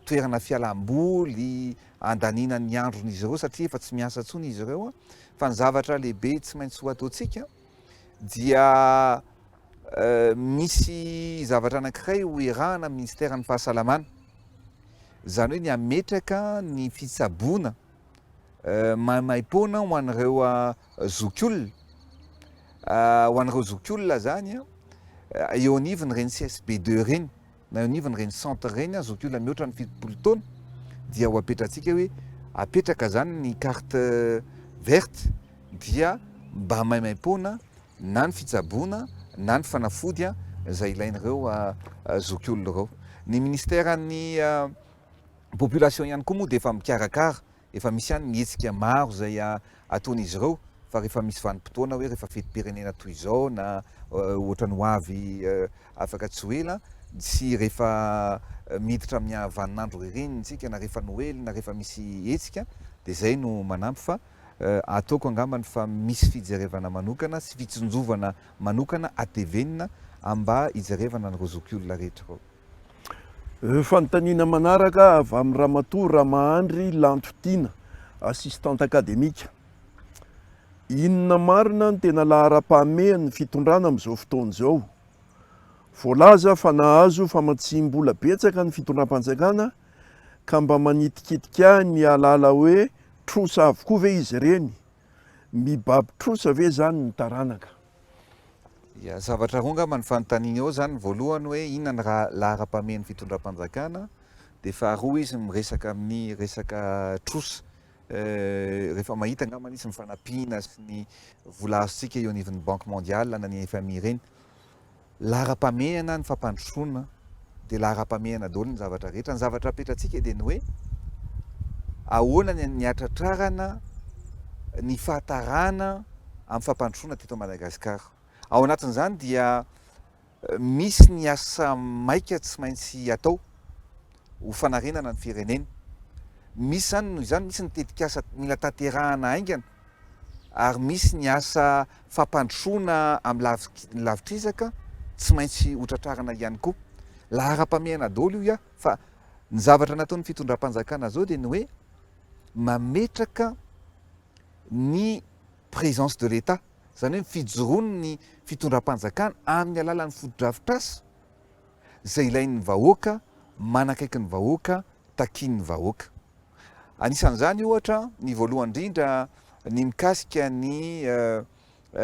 toerana fialam-boly andaniana ny andron'izy ireo satria efa tsy miasa intsony izy ireo fa ny zavatra lehibe tsy maintsy ho ataontsika dia misy zavatra anankiray ho erahana amin'ny Ministeran'ny Fahasalamana. Izany hoe ny hametraka ny fitsaboana. Maimaim-poana ho an'ireo zokiolona, ho an'ireo zokiolona izany an, eo anivon'ireny CSBD ireny na eo anivon'ireny centre ireny zokiolona mihoatra ny fitopolo taona dia ho apetrantsika hoe apetraka izany ny carte verte dia mba maimaim-poana na ny fitsaboana na ny fanafody izay ilain'ireo zokiolona ireo. Ny ministeran'ny Ny population ihany koa moa dia efa mikarakara, efa misy ihany ny hetsika maro izay ataon'izy ireo fa rehefa misy vanim-potoana hoe rehefa fetim-pirenena toy izao na ohatran'ny ho avy afaka tsy ho ela sy rehefa miditra amin'ny vaninandro ririny isika na rehefa noely na rehefa misy hetsika dia izay no manampy fa ataoko angambany fa misy fijerevana manokana sy fitsinjovana manokana atevenina mba hijerevana an'ireo zokiolona rehetra ireo. Fanontaniana manaraka avy amin'i Ramatoa Ramahandry Lanto Tiana, Assistante Académique, Inona marina no tena laharam-pahamehan'ny fitondrana amin'izao fotoana izao? Voalaza fa nahazo famatsiam-bola betsaka ny fitondram-panjakana ka mba manitikitika ahy ny hahalala hoe trosa avokoa ve izy ireny? Mibaby trosa ve izany ny taranaka? Dia zavatra roa angamba ny fanontaniany eo izany, ny voalohany hoe inona ny raha laharam-pahamehiny fitondram-panjakana, dia faharoa izy miresaka amin'ny resaka trosa, rehefa mahita angambany izy ny fanampiana sy ny vola azontsika eo anivon'ny banky mondiale na ny FMI ireny. Laharam-pahamehana ny fampandrosoana dia laharam-pahamehana daholo ny zavatra rehetra. Ny zavatra apetrantsika dia ny hoe ahoana ny hatratrarana ny fahatarana amin'ny fampandrosoana teto Madagasikara. Ao anatin'izany dia misy ny asa maika tsy maintsy atao ho fanarenana ny firenena. Misy izany noho izany misy ny tetikasa mila tanterahana haingana ary misy ny asa fampandrosoana amin'ny lavitr'ezaka tsy maintsy hotratrarina ihany koa. Laharam-pamehana daholo io yah, fa ny zavatra nataon'ny fitondram-panjakana izao dia ny hoe mametraka ny présence de l'Etat, izany hoe ny fijoroan'ny fitondram-panjakana amin'ny alalan'ny fotodrafitrasa, izay ilain'ny vahoaka, manakaiky ny vahoaka, takian'ny vahoaka. Anisan'izany ohatra ny voalohany indrindra ny mikasika ny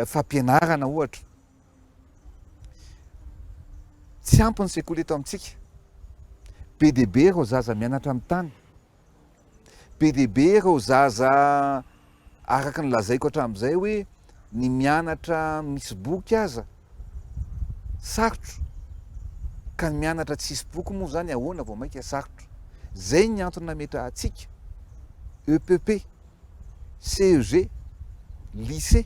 fampianarana ohatra. Tsy ampy ny sekoly eto amintsika. Be dia be ireo zaza mianatra amin'ny tany. Be dia be ireo zaza, araka ny lazaiko hatramin'izay hoe ny mianatra misy boky aza sarotra, ka ny mianatra tsisy boky moa izany ahoana vao mainka sarotra. Izay ny antony nametrahantsika EPP, CEG, lycée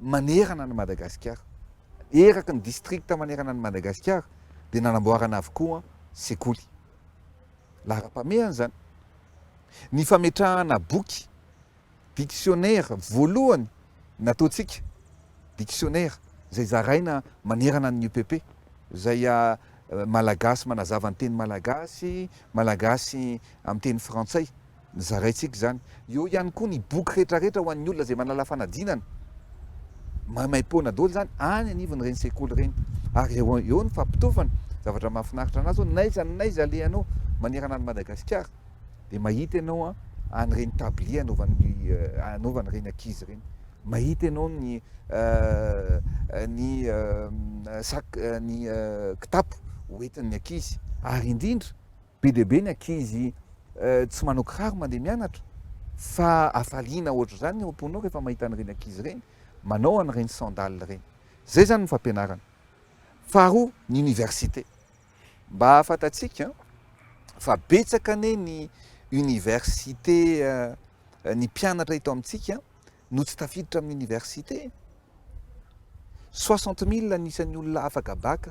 manerana an'i Madagasikara. Eraky ny districts manerana an'i Madagasikara dia nanamboarana avokoa sekoly. laharam-pahamehana izany. Ny fametrahana boky, diksionera, voalohany nataontsika, diksionera, izay zaraina manerana ny UPP, izay Malagasy manazava ny teny malagasy, Malagasy amin'ny teny frantsay. Zaraintsika izany. Eo ihany koa ny boky retraretra ho an'ny olona izay manala fanadinana. Maimaimpoana daholo izany any anivon'ireny sekoly ireny. Ary eo eo ny fampitaovana. Zavatra mahafinaritra anah zao n'aiza n'aiza alehanao manerana an'i Madagasikara dia mahita ianao an'ireny tablier anaovan'ny anaovan'ireny ankizy ireny. Mahita ianao ny ny sac ny kitapo hoentin'ny ankizy. Ary indrindra Be dia be ny ankizy tsy manao kiraro mandeha mianatra fa hafaliana ohatr'izany ny ao am-ponao rehefa mahita an'ireny ankizy ireny manao an'ireny sandales ireny. Izay izany ny fampianarana. Faharoa, ny oniversite. Mba hahafantatsika fa betsaka anie ny oniversite ny mpianatra eto amintsika no tsy tafiditra amin'ny oniversite. Soixante mille ny isan'ny olona afaka bacc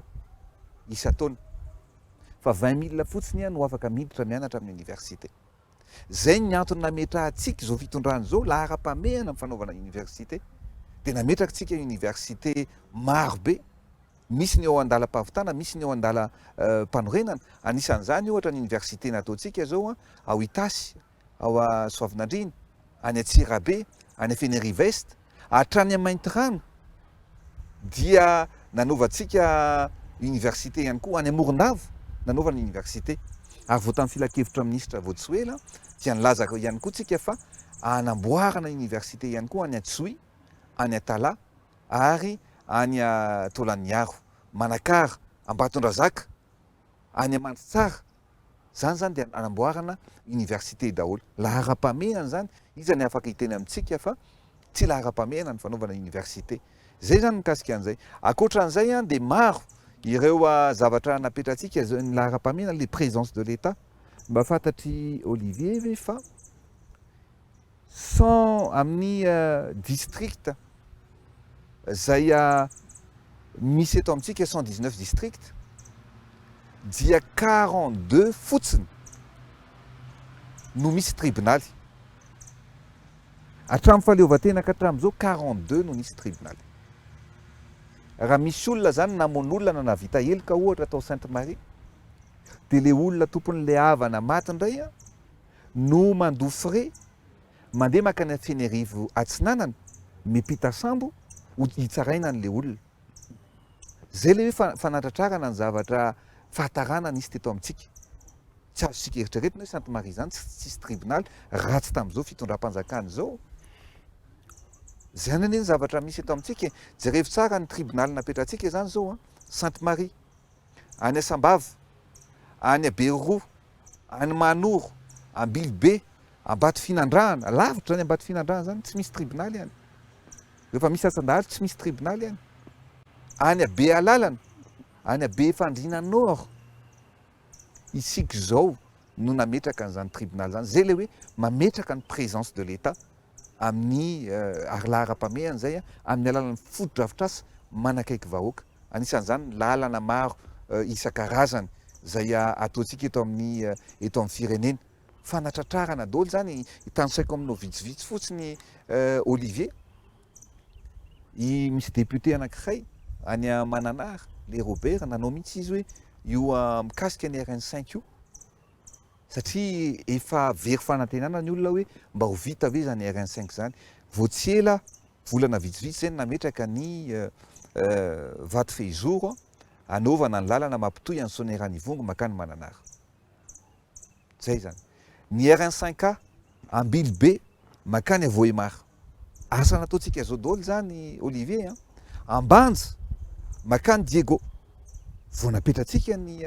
isan-taona, fa vingt mille fotsiny ihany no afaka miditra mianatra amin'ny oniversite. Izay ny antony nametrahantsika izao fitondrana izao, laharam-pahamehana amin'ny fanaovana oniversite, dia nametrakantsika oniversite maro be, misy ny eo an-dalam-pahavitana, misy ny eo an-dalam-panorenana, anisan'izany ohatra ny oniversite nataontsika izao ao Itasy, ao Soavinandriana, any Antsirabe, any Fenerive Est, hatrany amin'ny Maintirano, dia nanaovantsika université ihany koa, any Morondava, nanaovana université. Ary vao tamin'ny filankevitra minisitra vao tsy ho ela, dia nilaza ihany koa tsika fa hanamboarana université ihany koa any Antsohihy, any Antalaha, ary any Taolagnaro, Manakara, Ambatondrazaka. any Mandritsara, izany izany dia anamboarana université daholo. Laharam-pahamehana izany, iza ny afaka hiteny amintsika fa tsy laharam-pahamehana ny fanaovana université. Izay izany mikasika an'izay. Ankoatra an'izay dia maro ireo zavatra napetratsika, izay ny laharam-pahamehana, le présence de l'Etat. Mba fantatr'i Olivier ve fa Son amin'ny district izay misy eto amintsika cent dix neuf district dia quarante deux fotsiny no misy tribonaly. Hatramin'ny fahaleovantena ka hatramin'izao quarante deux no nisy tribonaly. Raha misy olona izany namono olona na nahavita heloka ohatra tao Sainte Marie dia ilay olona tompon'ilay havana maty indray No mandoa frais mandeha makany Anfenerivo atsinanana miampita sambo ho hitsaraina an'ilay olona. Izay ilay hoe fanatratrarana ny zavatra fahatarana nisy teto amintsika. Tsy azontsika eritreretina hoe Sainte Marie izany tsy tsisy tribonaly raha tsy tamin'izao fitondram-panjakana izao. Izany anie ny zavatra misy eto amintsika e. Jerevo tsara ny tribonaly napetrantsika izany izao a. Sainte Marie, any Asambava, any Beroa, Any Mahanoro, Ambilobe, Ambatofinandrahana, lavitra zany Ambatofinandrahana zany, tsy misy tribonaly any. Rehefa misy asan-dahalo tsy misy tribonaly any. Any à Bealalana, any à Befandriana Nord, isika izao no nametraka an'izany tribonaly zany. Zay le hoe mametraka ny présence de l'Etat amin'ny arlahy ara-pamehana izay amin'ny alalan'ny fotodrafitrasa manakaiky vahoaka. Anisan'izany ny lalana maro isan-karazany izay ataontsika eto amin'ny eto amin'ny firenena. Fanatratrarana daholo izany, tanisaiko aminao vitsivitsy fotsiny Olivier, misy député anankiray any Mananara, le Robert, nanao mihitsy izy hoe io mikasika ny RN5 io, satria efa very fanantenana ny olona hoe mba ho vita ve izany RN cinq izany, vao tsy ela, volana vitsivitsy izay no nametraka ny vato fehizoro hanaovana ny lalana mampitohy an'i Sonieran'Ivongo mankany Mananara. Izay izany. Ny RN cinq A, Ambilobe, mankany Vohemar. Asa nataontsika zao daholo zany Olivier an. Ambanja, makany Diego. Vao napetratsika ny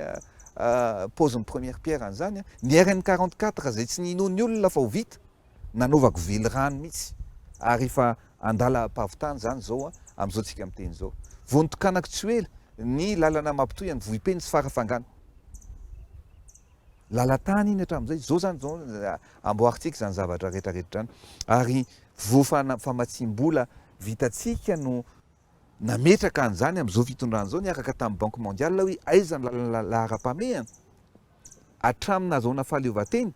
pause ny première pierre an'izany an. Ny RN 44 izay tsy ninoan'ny olona fa ho vita, nanaovako velirano mihitsy. Ary efa andalam-pahavitana izany izao an, amin'izao tsika miteny izao. Vao nitokanako tsy ho ela ny lalana mampitohy an'i Vohipeno sy Farafangana. Lalan-tany iny hatramin'izay, izao zany izao Amboarintsika izany zavatra rehetrarehetra izany ary voa fana- famatsiam-bola vitantsika no nametraka an'izany amin'izao fitondrana izao, niaraka tamin'ny Banque mondiale hoe aiza ny lalana la- laharam-pahamehana, hatramin'ny nahazahoana fahaleovantena,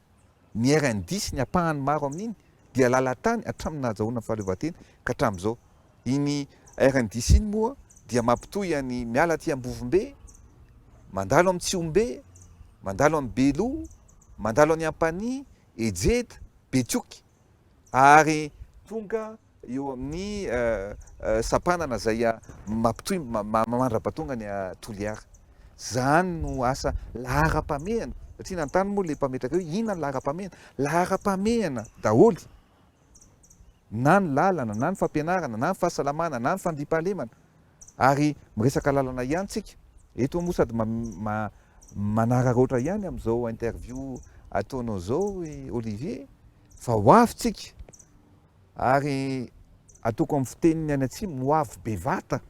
ny RND sy ny ampahany maro amin'iny dia lalan-tany hatramin'ny nahazahoana ny fahaleovantena ka hatramin'izao. Iny RNDC iny moa dia mampitohy an'i miala aty Ambovombe, mandalo amin'i Tsihombe, mandalo amin'i Beloha, mandalo any Ampanihy, Ejeda, Betioky ary tonga eo amin'ny sampanana izay mampitohy mandrapatonga an'i Toliara. Izany no asa laharam-pahamehana, satria nanontany moa ilay mpametraka hoe inona ny laharam-pahamehana? Laharam-pahamehana daholo. na ny lalana, na ny fampianarana, na ny fahasalamana, na ny fandriampahalemana, ary miresaka lalana ihany tsika eto moa sady manararaotra ihany amin'izao interview ataonao izao i Olivier fa ho avy tsika ary ataoko amin'ny fiteniny any atsimo ho avy be vata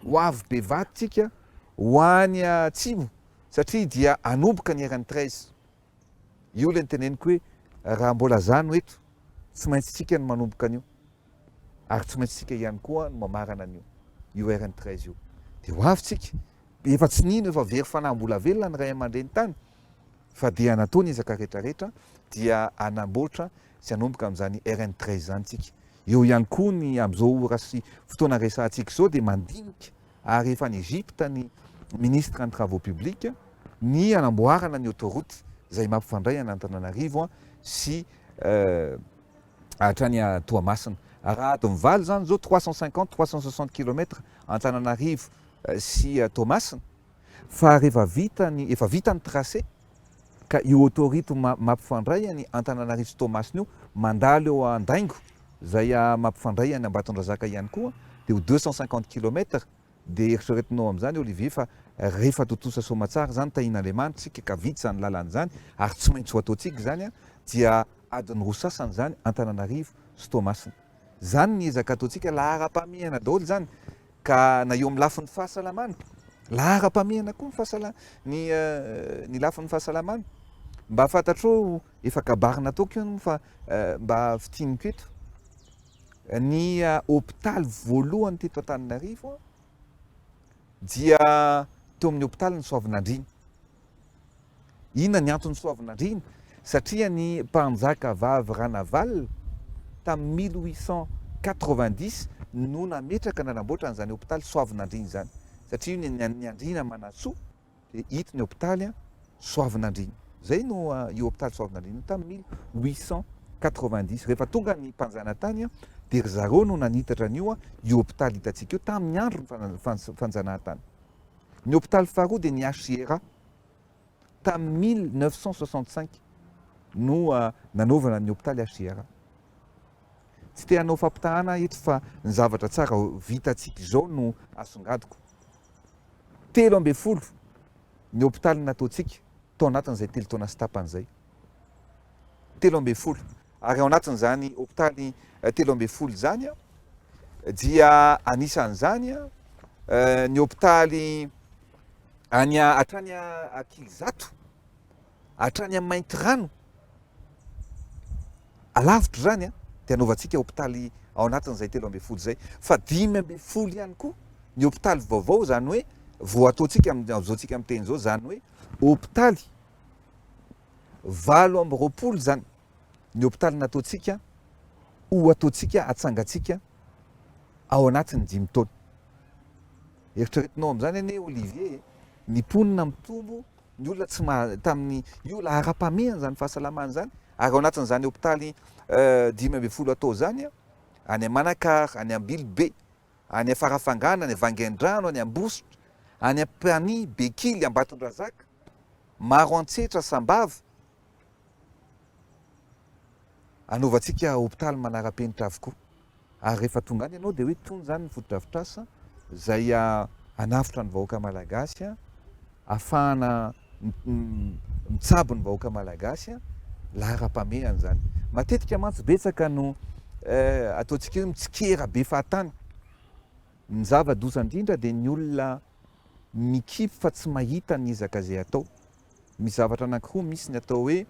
ho avy be vaty tsika ho any atsimo satria dia anomboka ny eran'ny treize Io ilay niteneniko hoe raha mbola za no eto, tsy maintsy tsika no manomboka an'io, ary tsy maintsy tsika ihany koa no mamarana an'io, io RN treize io. Dia ho avy tsika, efa tsy nino, efa very fanahy mbola velona ny ray aman-dreny tany, fa dia hanatao ny ezaka rehetra rehetra, dia hanamboatra sy hanomboka amin'izany RN treize izany tsika. Eo ihany koa ny amin'izao ora sy fotoana resahantsika izao dia mandinika ary efa any Egypte ny ministre ny travaux publics ny hanamboarana ny autoroute izay mampifandray an' Antananarivo sy hatrany à Toamasina, raha ady mivaly izany izao trois cent cinquante, trois cent soixante kilomètres Antananarivo sy Toamasina fa rehefa vita ny, efa vita ny tracé. Ka io autorito mampifandray any Antananarivo sy Toamasina io mandalo eo Andaingo zay mampifandray any Ambatondrazaka ihany koa dia ho deux cent cinquante kilomètre dia eritreretinao amzany Olivier fa rehefa tontosa soamatsara zany tahin'Alemano tsika ka vitsy zany lalana zany ary tsy maintsy ho ataontsika zany an dia adiny roa sasany zany Antananarivo sy Toamasina zany ny ezaka ataontsika laharam-pahamehana daholo zany Ka na eo amin'ny lafiny fahasalamana, laharam-pahamehana koa ny fahasalamana, ny ny lafiny fahasalamana. Mba fantatrao, efa kabary nataoko io fa mba fintiniko eto. Ny hopitaly voalohany teto Antananarivo dia teo amin'ny hopitalin'i Soavinandriana. Inona ny antony soavin'andriana? Satria ny mpanjakavavy Ranaval tamin'ny mille huit cent quatre-vingt-dix no nametraka nanamboatra an'izany hopitaly soavin'andriana izany. Satria io ny an'ny andriana Manantsoa dia ito ny hopitaly soavin'andriana. Izay no io hopitaly soavin'andriana io tamin'ny mille huit cent quatre-vingt-dix. Rehefa tonga ny mpanjanatany dia ry zareo no nanitatra an'io io hopitaly hitantsika io tamin'ny andron'ny fanjanahantany. Ny hopitaly faharoa dia ny HJRA tamin'ny mille neuf cent soixante cinq no nanaovana ny hopitaly HCR. Tsy te hanao fampitahana aho eto fa ny zavatra tsara vitantsika izao no asongadiko. Telo ambin'ny folo ny hopitaly nataontsika tao anatin'izay telo taona sy tapany izay. telo ambin'ny folo ary ao anatin'izany hopitaly telo ambin'ny folo izany dia anisan'izany ny hopitaly any hatrany Akilizato hatrany amin'ny Maintirano alavitra izany a dia anaovantsika hopitaly ao anatin'izay telo ambin'ny folo izay fa dimy ambin'ny folo ihany koa ny hopitaly vaovao izany hoe vao ataontsika amin'izao antsika miteny izao izany hoe hopitaly Valo amby roapolo izany ny hopitaly nataontsika ho ataontsika atsangantsika ao anatin'ny dimy taona. Eritreretinao amin'izany anie Olivier e, ny mponina mitombo, ny olona tsy maha, tamin'ny, io laharam-pahamehana izany fahasalamana izany, ary ao anatin'izany hopitaly dimy ambin'ny folo atao izany, any Manakara, any Ambilobe, any Afarafangana, any Vangaindrano, any Ambositra, any Ampani, Bekily, Ambatondrazaka, Maroantsetra, Sambava, anaovantsika hopitaly manara-penitra avokoa. Ary rehefa tonga any ianao dia hoe itony izany ny fotodrafitrasa izay hanafotra ny vahoaka malagasy Afahana mitsabo ny vahoaka malagasy an, laharam-pahamehana izany. Matetika mantsy betsaka no ataontsika hoe mitsikera be fahatany. Ny zava-doza indrindra dia ny olona mikipy fa tsy mahita ny ezaka izay atao. Misy zavatra anankiroa, misy ny atao hoe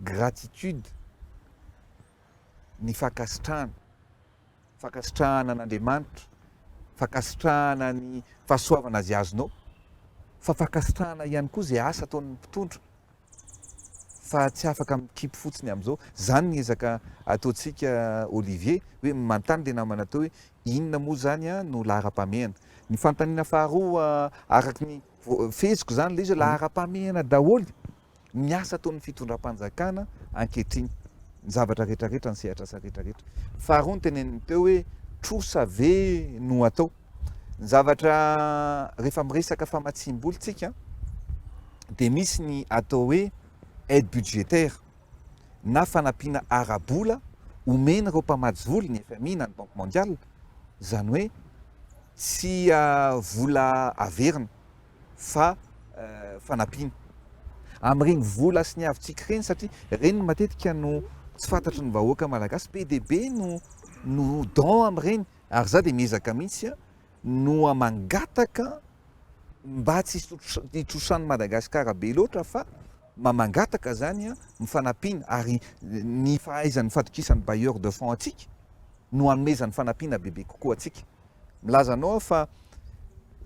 gratitude, ny fankasitrahana. fankasitrahana an'Andriamanitra, fankasitrahana ny fahasoavana izay azonao, fa fankasitrahana ihany koa izay asa ataon'ny mpitondra, fa tsy afaka mikipy fotsiny amin'izao, izany ny ezaka ataontsika Olivier, hoe manontany ilay namana teo hoe inona moa izany no laharam-pahamehana. Ny fanontaniana faharoa araky ny feheziko izany ilay izy hoe laharam-pahamehana daholo miasa ataon'ny fitondram-panjakana ankehitriny, ny zavatra rehetra rehetra, ny sehatra asa rehetra rehetra. Faharoa ny teneniny teo hoe trosa ve no atao? Ny zavatra rehefa miresaka famatsiam-bola tsika dia misy ny atao hoe aide budgétaire na fanampiana ara-bola omena ireo mpamatsy vola ny FMI na ny Banque mondiale, izany hoe tsy vola averina. fa fanampiana amin'ireny vola sy ny havitsika ireny satria ireny no matetika no tsy fantatry ny vahoaka malagasy, be dia be no no don amin'ireny ary izaho dia miezaka mihitsy no mangataka mba tsy hitrosan'i Madagasikara be loatra fa mba mangataka izany ny fanampiana ary ny fahaizan'ny fatokisan'ny bailleurs de fonds antsika no hanomezany fanampiana bebe kokoa antsika. Milaza anao aho fa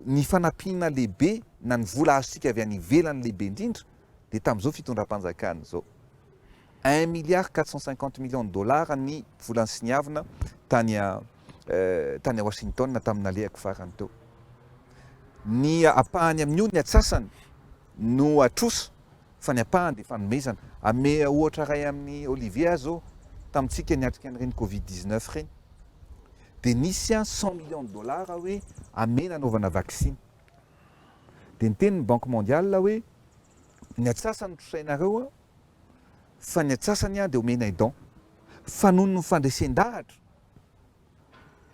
ny fanampiana lehibe na ny vola azontsika avy any ivelany lehibe indrindra dia tamin'izao fitondram-panjakana izao. Un milliard quatre cent cinquante millions de dollars ny vola nisiniavina tany tany Washington tamin'ny nalehako farany teo. Ny ampahany amin'io ny atsasany no atrosa fa ny ampahany dia fanomezana. Hanome ohatra iray amin'i Olivier aho izao, tamintsika niatrika an'ireny covid dix neuf ireny dia nisy cent millions de dollars hoe amena hanaovana vaksiny. Dia niteny ny banque mondiale hoe ny atsasany trosainareo fa ny atsasany dia homenay don. Fa noho ny fandresen-dahatra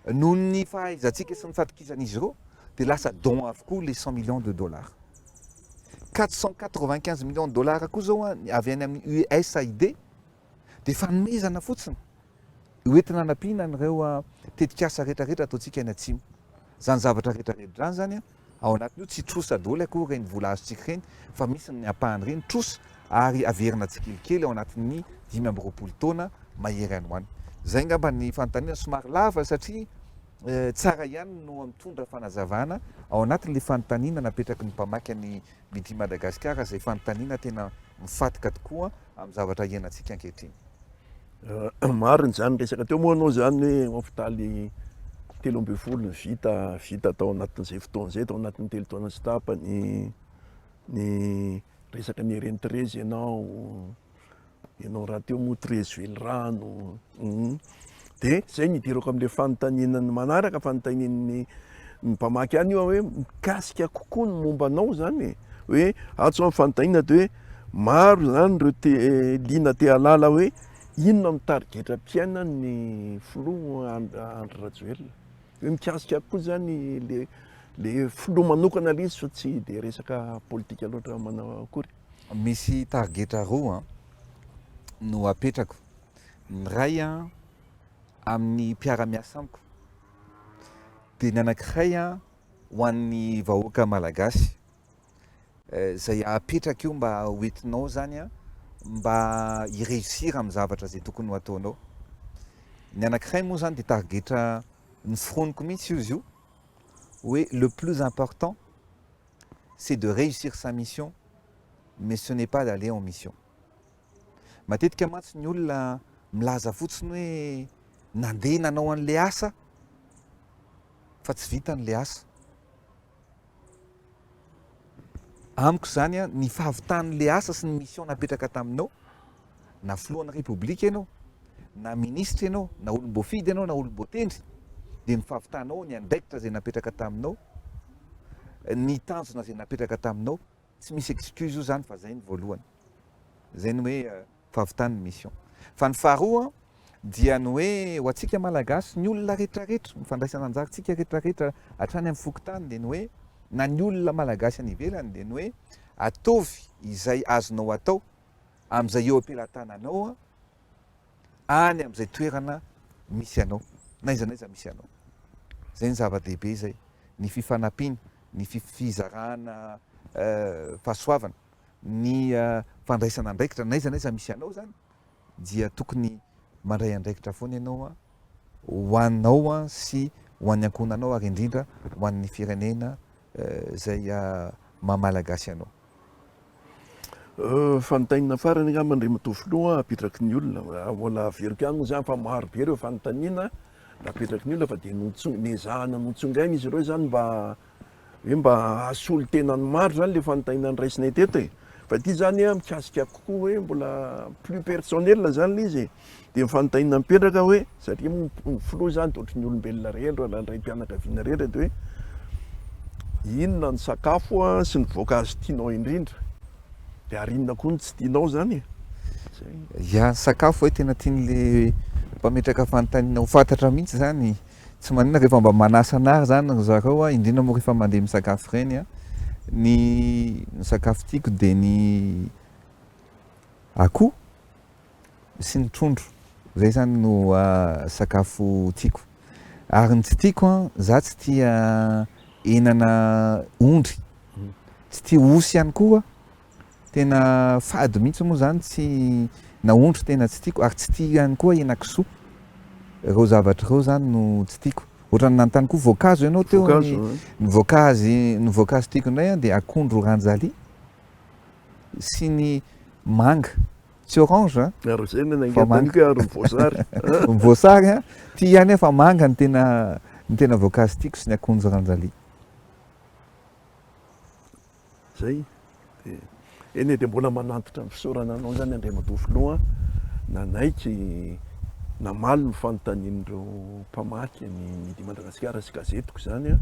Noho ny fahaizantsika sy ny fatokizan'izy ireo dia lasa don avokoa ilay cent millions de dollars. Quatre cent quatre-vingt-quinze millions de dollars koa izao avy any amin'ny USAID dia fanomezana fotsiny ho entina hanampiana an'ireo tetikasa rehetrarehetra ataontsika any Atsimo. Izany zavatra rehetrarehetra izany izany an! Ao anatin'io tsy trosa daholo akory ireny vola azontsika ireny fa misy ny ampahany ireny trosa ary averina tsikelikely ao anatin'ny dimy amby roapolo taona mahery any ho any. Izay angamba ny fanontaniana somary lava satria tsara ihany no mitondra fanazavana ao anatin'ilay fanontaniana napetraky ny mpamaky an'i Midi Madagasikara izay fanontaniana tena mifantoka tokoa amin'ny zavatra iainantsika ankehitriny. Marina izany resaka, teo moa ianao izany hoe hopitaly telo ambin'ny folo ny vita, vita tao anatin'izay fotoana izay, tao anatin'ny telo taona sy tapany, ny resaka ny reny Terezy ianao, ianao rahateo moa Terezy Velirano, dia izay no hidirako amin'ilay fanontaniana manaraka, fanontanian'ny. ny mpamaky any hoe mikasika kokoa ny momba anao izany e. Hoe atsy amin'ny fanontaniana dia hoe maro izany ireo te eh, liana te halala hoe inona no tarigetra mpiainan'ny filoha Andry Rajoelina. Hoe mikasika kokoa izany le le filoha manokana le izy fa tsy dia resaka politika loatra manao akory. Misy tarigetra roa no apetrako. Ny iray amin'ny mpiara-miasa amiko dia ny anankiray an, ho an'ny vahoaka malagasy, izay apetraka eo mba ho entinao izany an, mba hi réussir amin'ny zavatra izay tokony ho ataonao. Ny anankiray moa izany dia tarigetra noforoniko mihitsy io izy io, hoe le plus important c'est de réussir sa mission mais ce n'est pas d'aller en mission. Matetika mantsy ny olona milaza fotsiny hoe nandeha nanao an'ilay asa fa tsy vitany ilay asa. Amiko izany a, ny fahavitan'ilay asa sy ny mission napetraka taminao, na filohan'ny Repoblika ianao, na minisitra ianao, na olom-boafidy ianao, na olom-boatendry, dia ny fahavitanao ny andraikitra izay napetraka taminao, ny tanjona izay napetraka taminao, Tsy misy excuse io zany fa zay ny voalohany. Zay ny hoe fahavitany ny mission. Fa ny faharoa dia ny hoe ho antsika malagasy ny olona retraretra ny fandraisana anjara tsika retraretra hatrany amin'ny fokontany dia ny hoe na ny olona malagasy any ivelany dia ny hoe ataovy izay azonao atao amin'izay eo am-pelatananao any amin'izay toerana misy anao, na aiza na aiza misy anao. Izay no zava-dehibe izay, ny fifanampiana, ny fizarana fahasoavana, ny fandraisana andraikitra, na aiza na aiza misy anao izany dia tokony mandray andraikitra foana ianao an, ho anao an sy ho an'ny ankohonanao ary indrindra ho an'ny firenena izay maha-malagasy anao. Fanontaniana farany angamba Andriamatoa Filoha hapetraky ny olona. Mbola haveriko ihany moa izany fa maro be ireo fanontaniana napetraky ny olona fa dia notso- nezahana notsongaina izy ireo izany mba hoe mba hahasolo tena ny maro izany ilay fanontaniana noraisina teto e. Fa ity izany mikasika kokoa hoe mbola plus personnel izany ilay izy e. Dia ny fanontaniana mipetraka hoe, satria moa ny filoha izany dia ohatran'ny olombelona rehetra, na ny raim-pianakaviana rehetra, dia hoe inona ny sakafo sy ny voankazo tianao indrindra? Dia ary inona koa no tsy tianao izany e? Ya, sakafo hoe tena tian'le mpametraka fanontaniana ho fantatra mihitsy izany. Tsy maninona rehefa mba manasa anary izany ry zareo, indrindra moa rehefa mandeha misakafo ireny an. Ny sakafo tiako dia ny akoho. sy ny trondro zay zany no sakafo tiako ary ny tsy tiako an za tsy tia henana ondry tsy tia osy ihany koa tena fady mihitsy moa zany tsy na ondry tena tsy tiako ary tsy tia ihany koa henakisoa ireo zavatra ireo zany no tsy tiako ohatrany nanontany koa voankazo ianao teo ny voankazy ny voankazo tiako indray an dia akondro ranjalia sy ny manga tsy orange a. Ary zay no nanentaniko hoe ary ny voasary. Ny voasary a, ty ihany aho fa manga no tena no tena voankazo tiako sy ny akondro ranjalia. Zay, de eny e, de mbola manantitra ny fisaorana anao zany Andriamatoa Filoha nanaiky namaly ny fanontanian'ireo mpamaky ny Midi Madagasikara sy gazetiko zany a,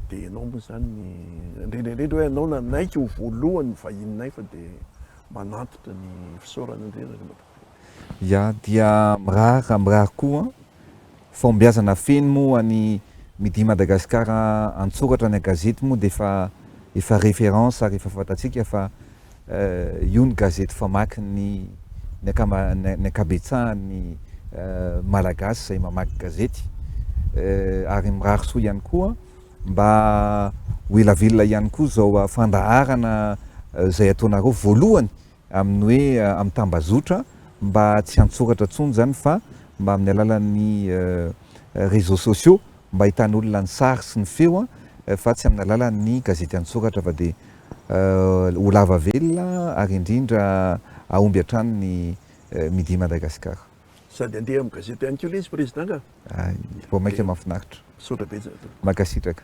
de ianao moa zany, indrindra indrindra hoe ianao nanaiky ho voalohany ny vahininay fa de. manantitra ny fisaorana indray nareo madame. Ya dia mirary ka mirary koa an! Fahombiazana feno moa ho an'i Midi Madagascar an-tsoratra any an-gazety moa dia efa efa référence ary efa fantatsika fa io ny gazety famakin'ny ny ankama ny ankabetsahan'ny Malagasy izay mamaky gazety ary mirary soa ihany koa Mba ho ela velona ihany koa izao fandaharana izay ataonareo voalohany amin'ny hoe amin'ny tambazotra mba tsy an-tsoratra intsony izany fa mba amin'ny alalan'ny réseaux sociaux mba ahitan'olona ny sary sy ny feo fa tsy amin'ny alalan'ny gazety an-tsoratra fa dia ho lava velona ary indrindra hahomby hatrany ny Midi Madagasikara. Sady handeha amin'ny gazety ihany koa ilay izy Président angaha? Hay, vao mainka mahafinaritra. Misaotra betsaka tompoko. Mankasitraka.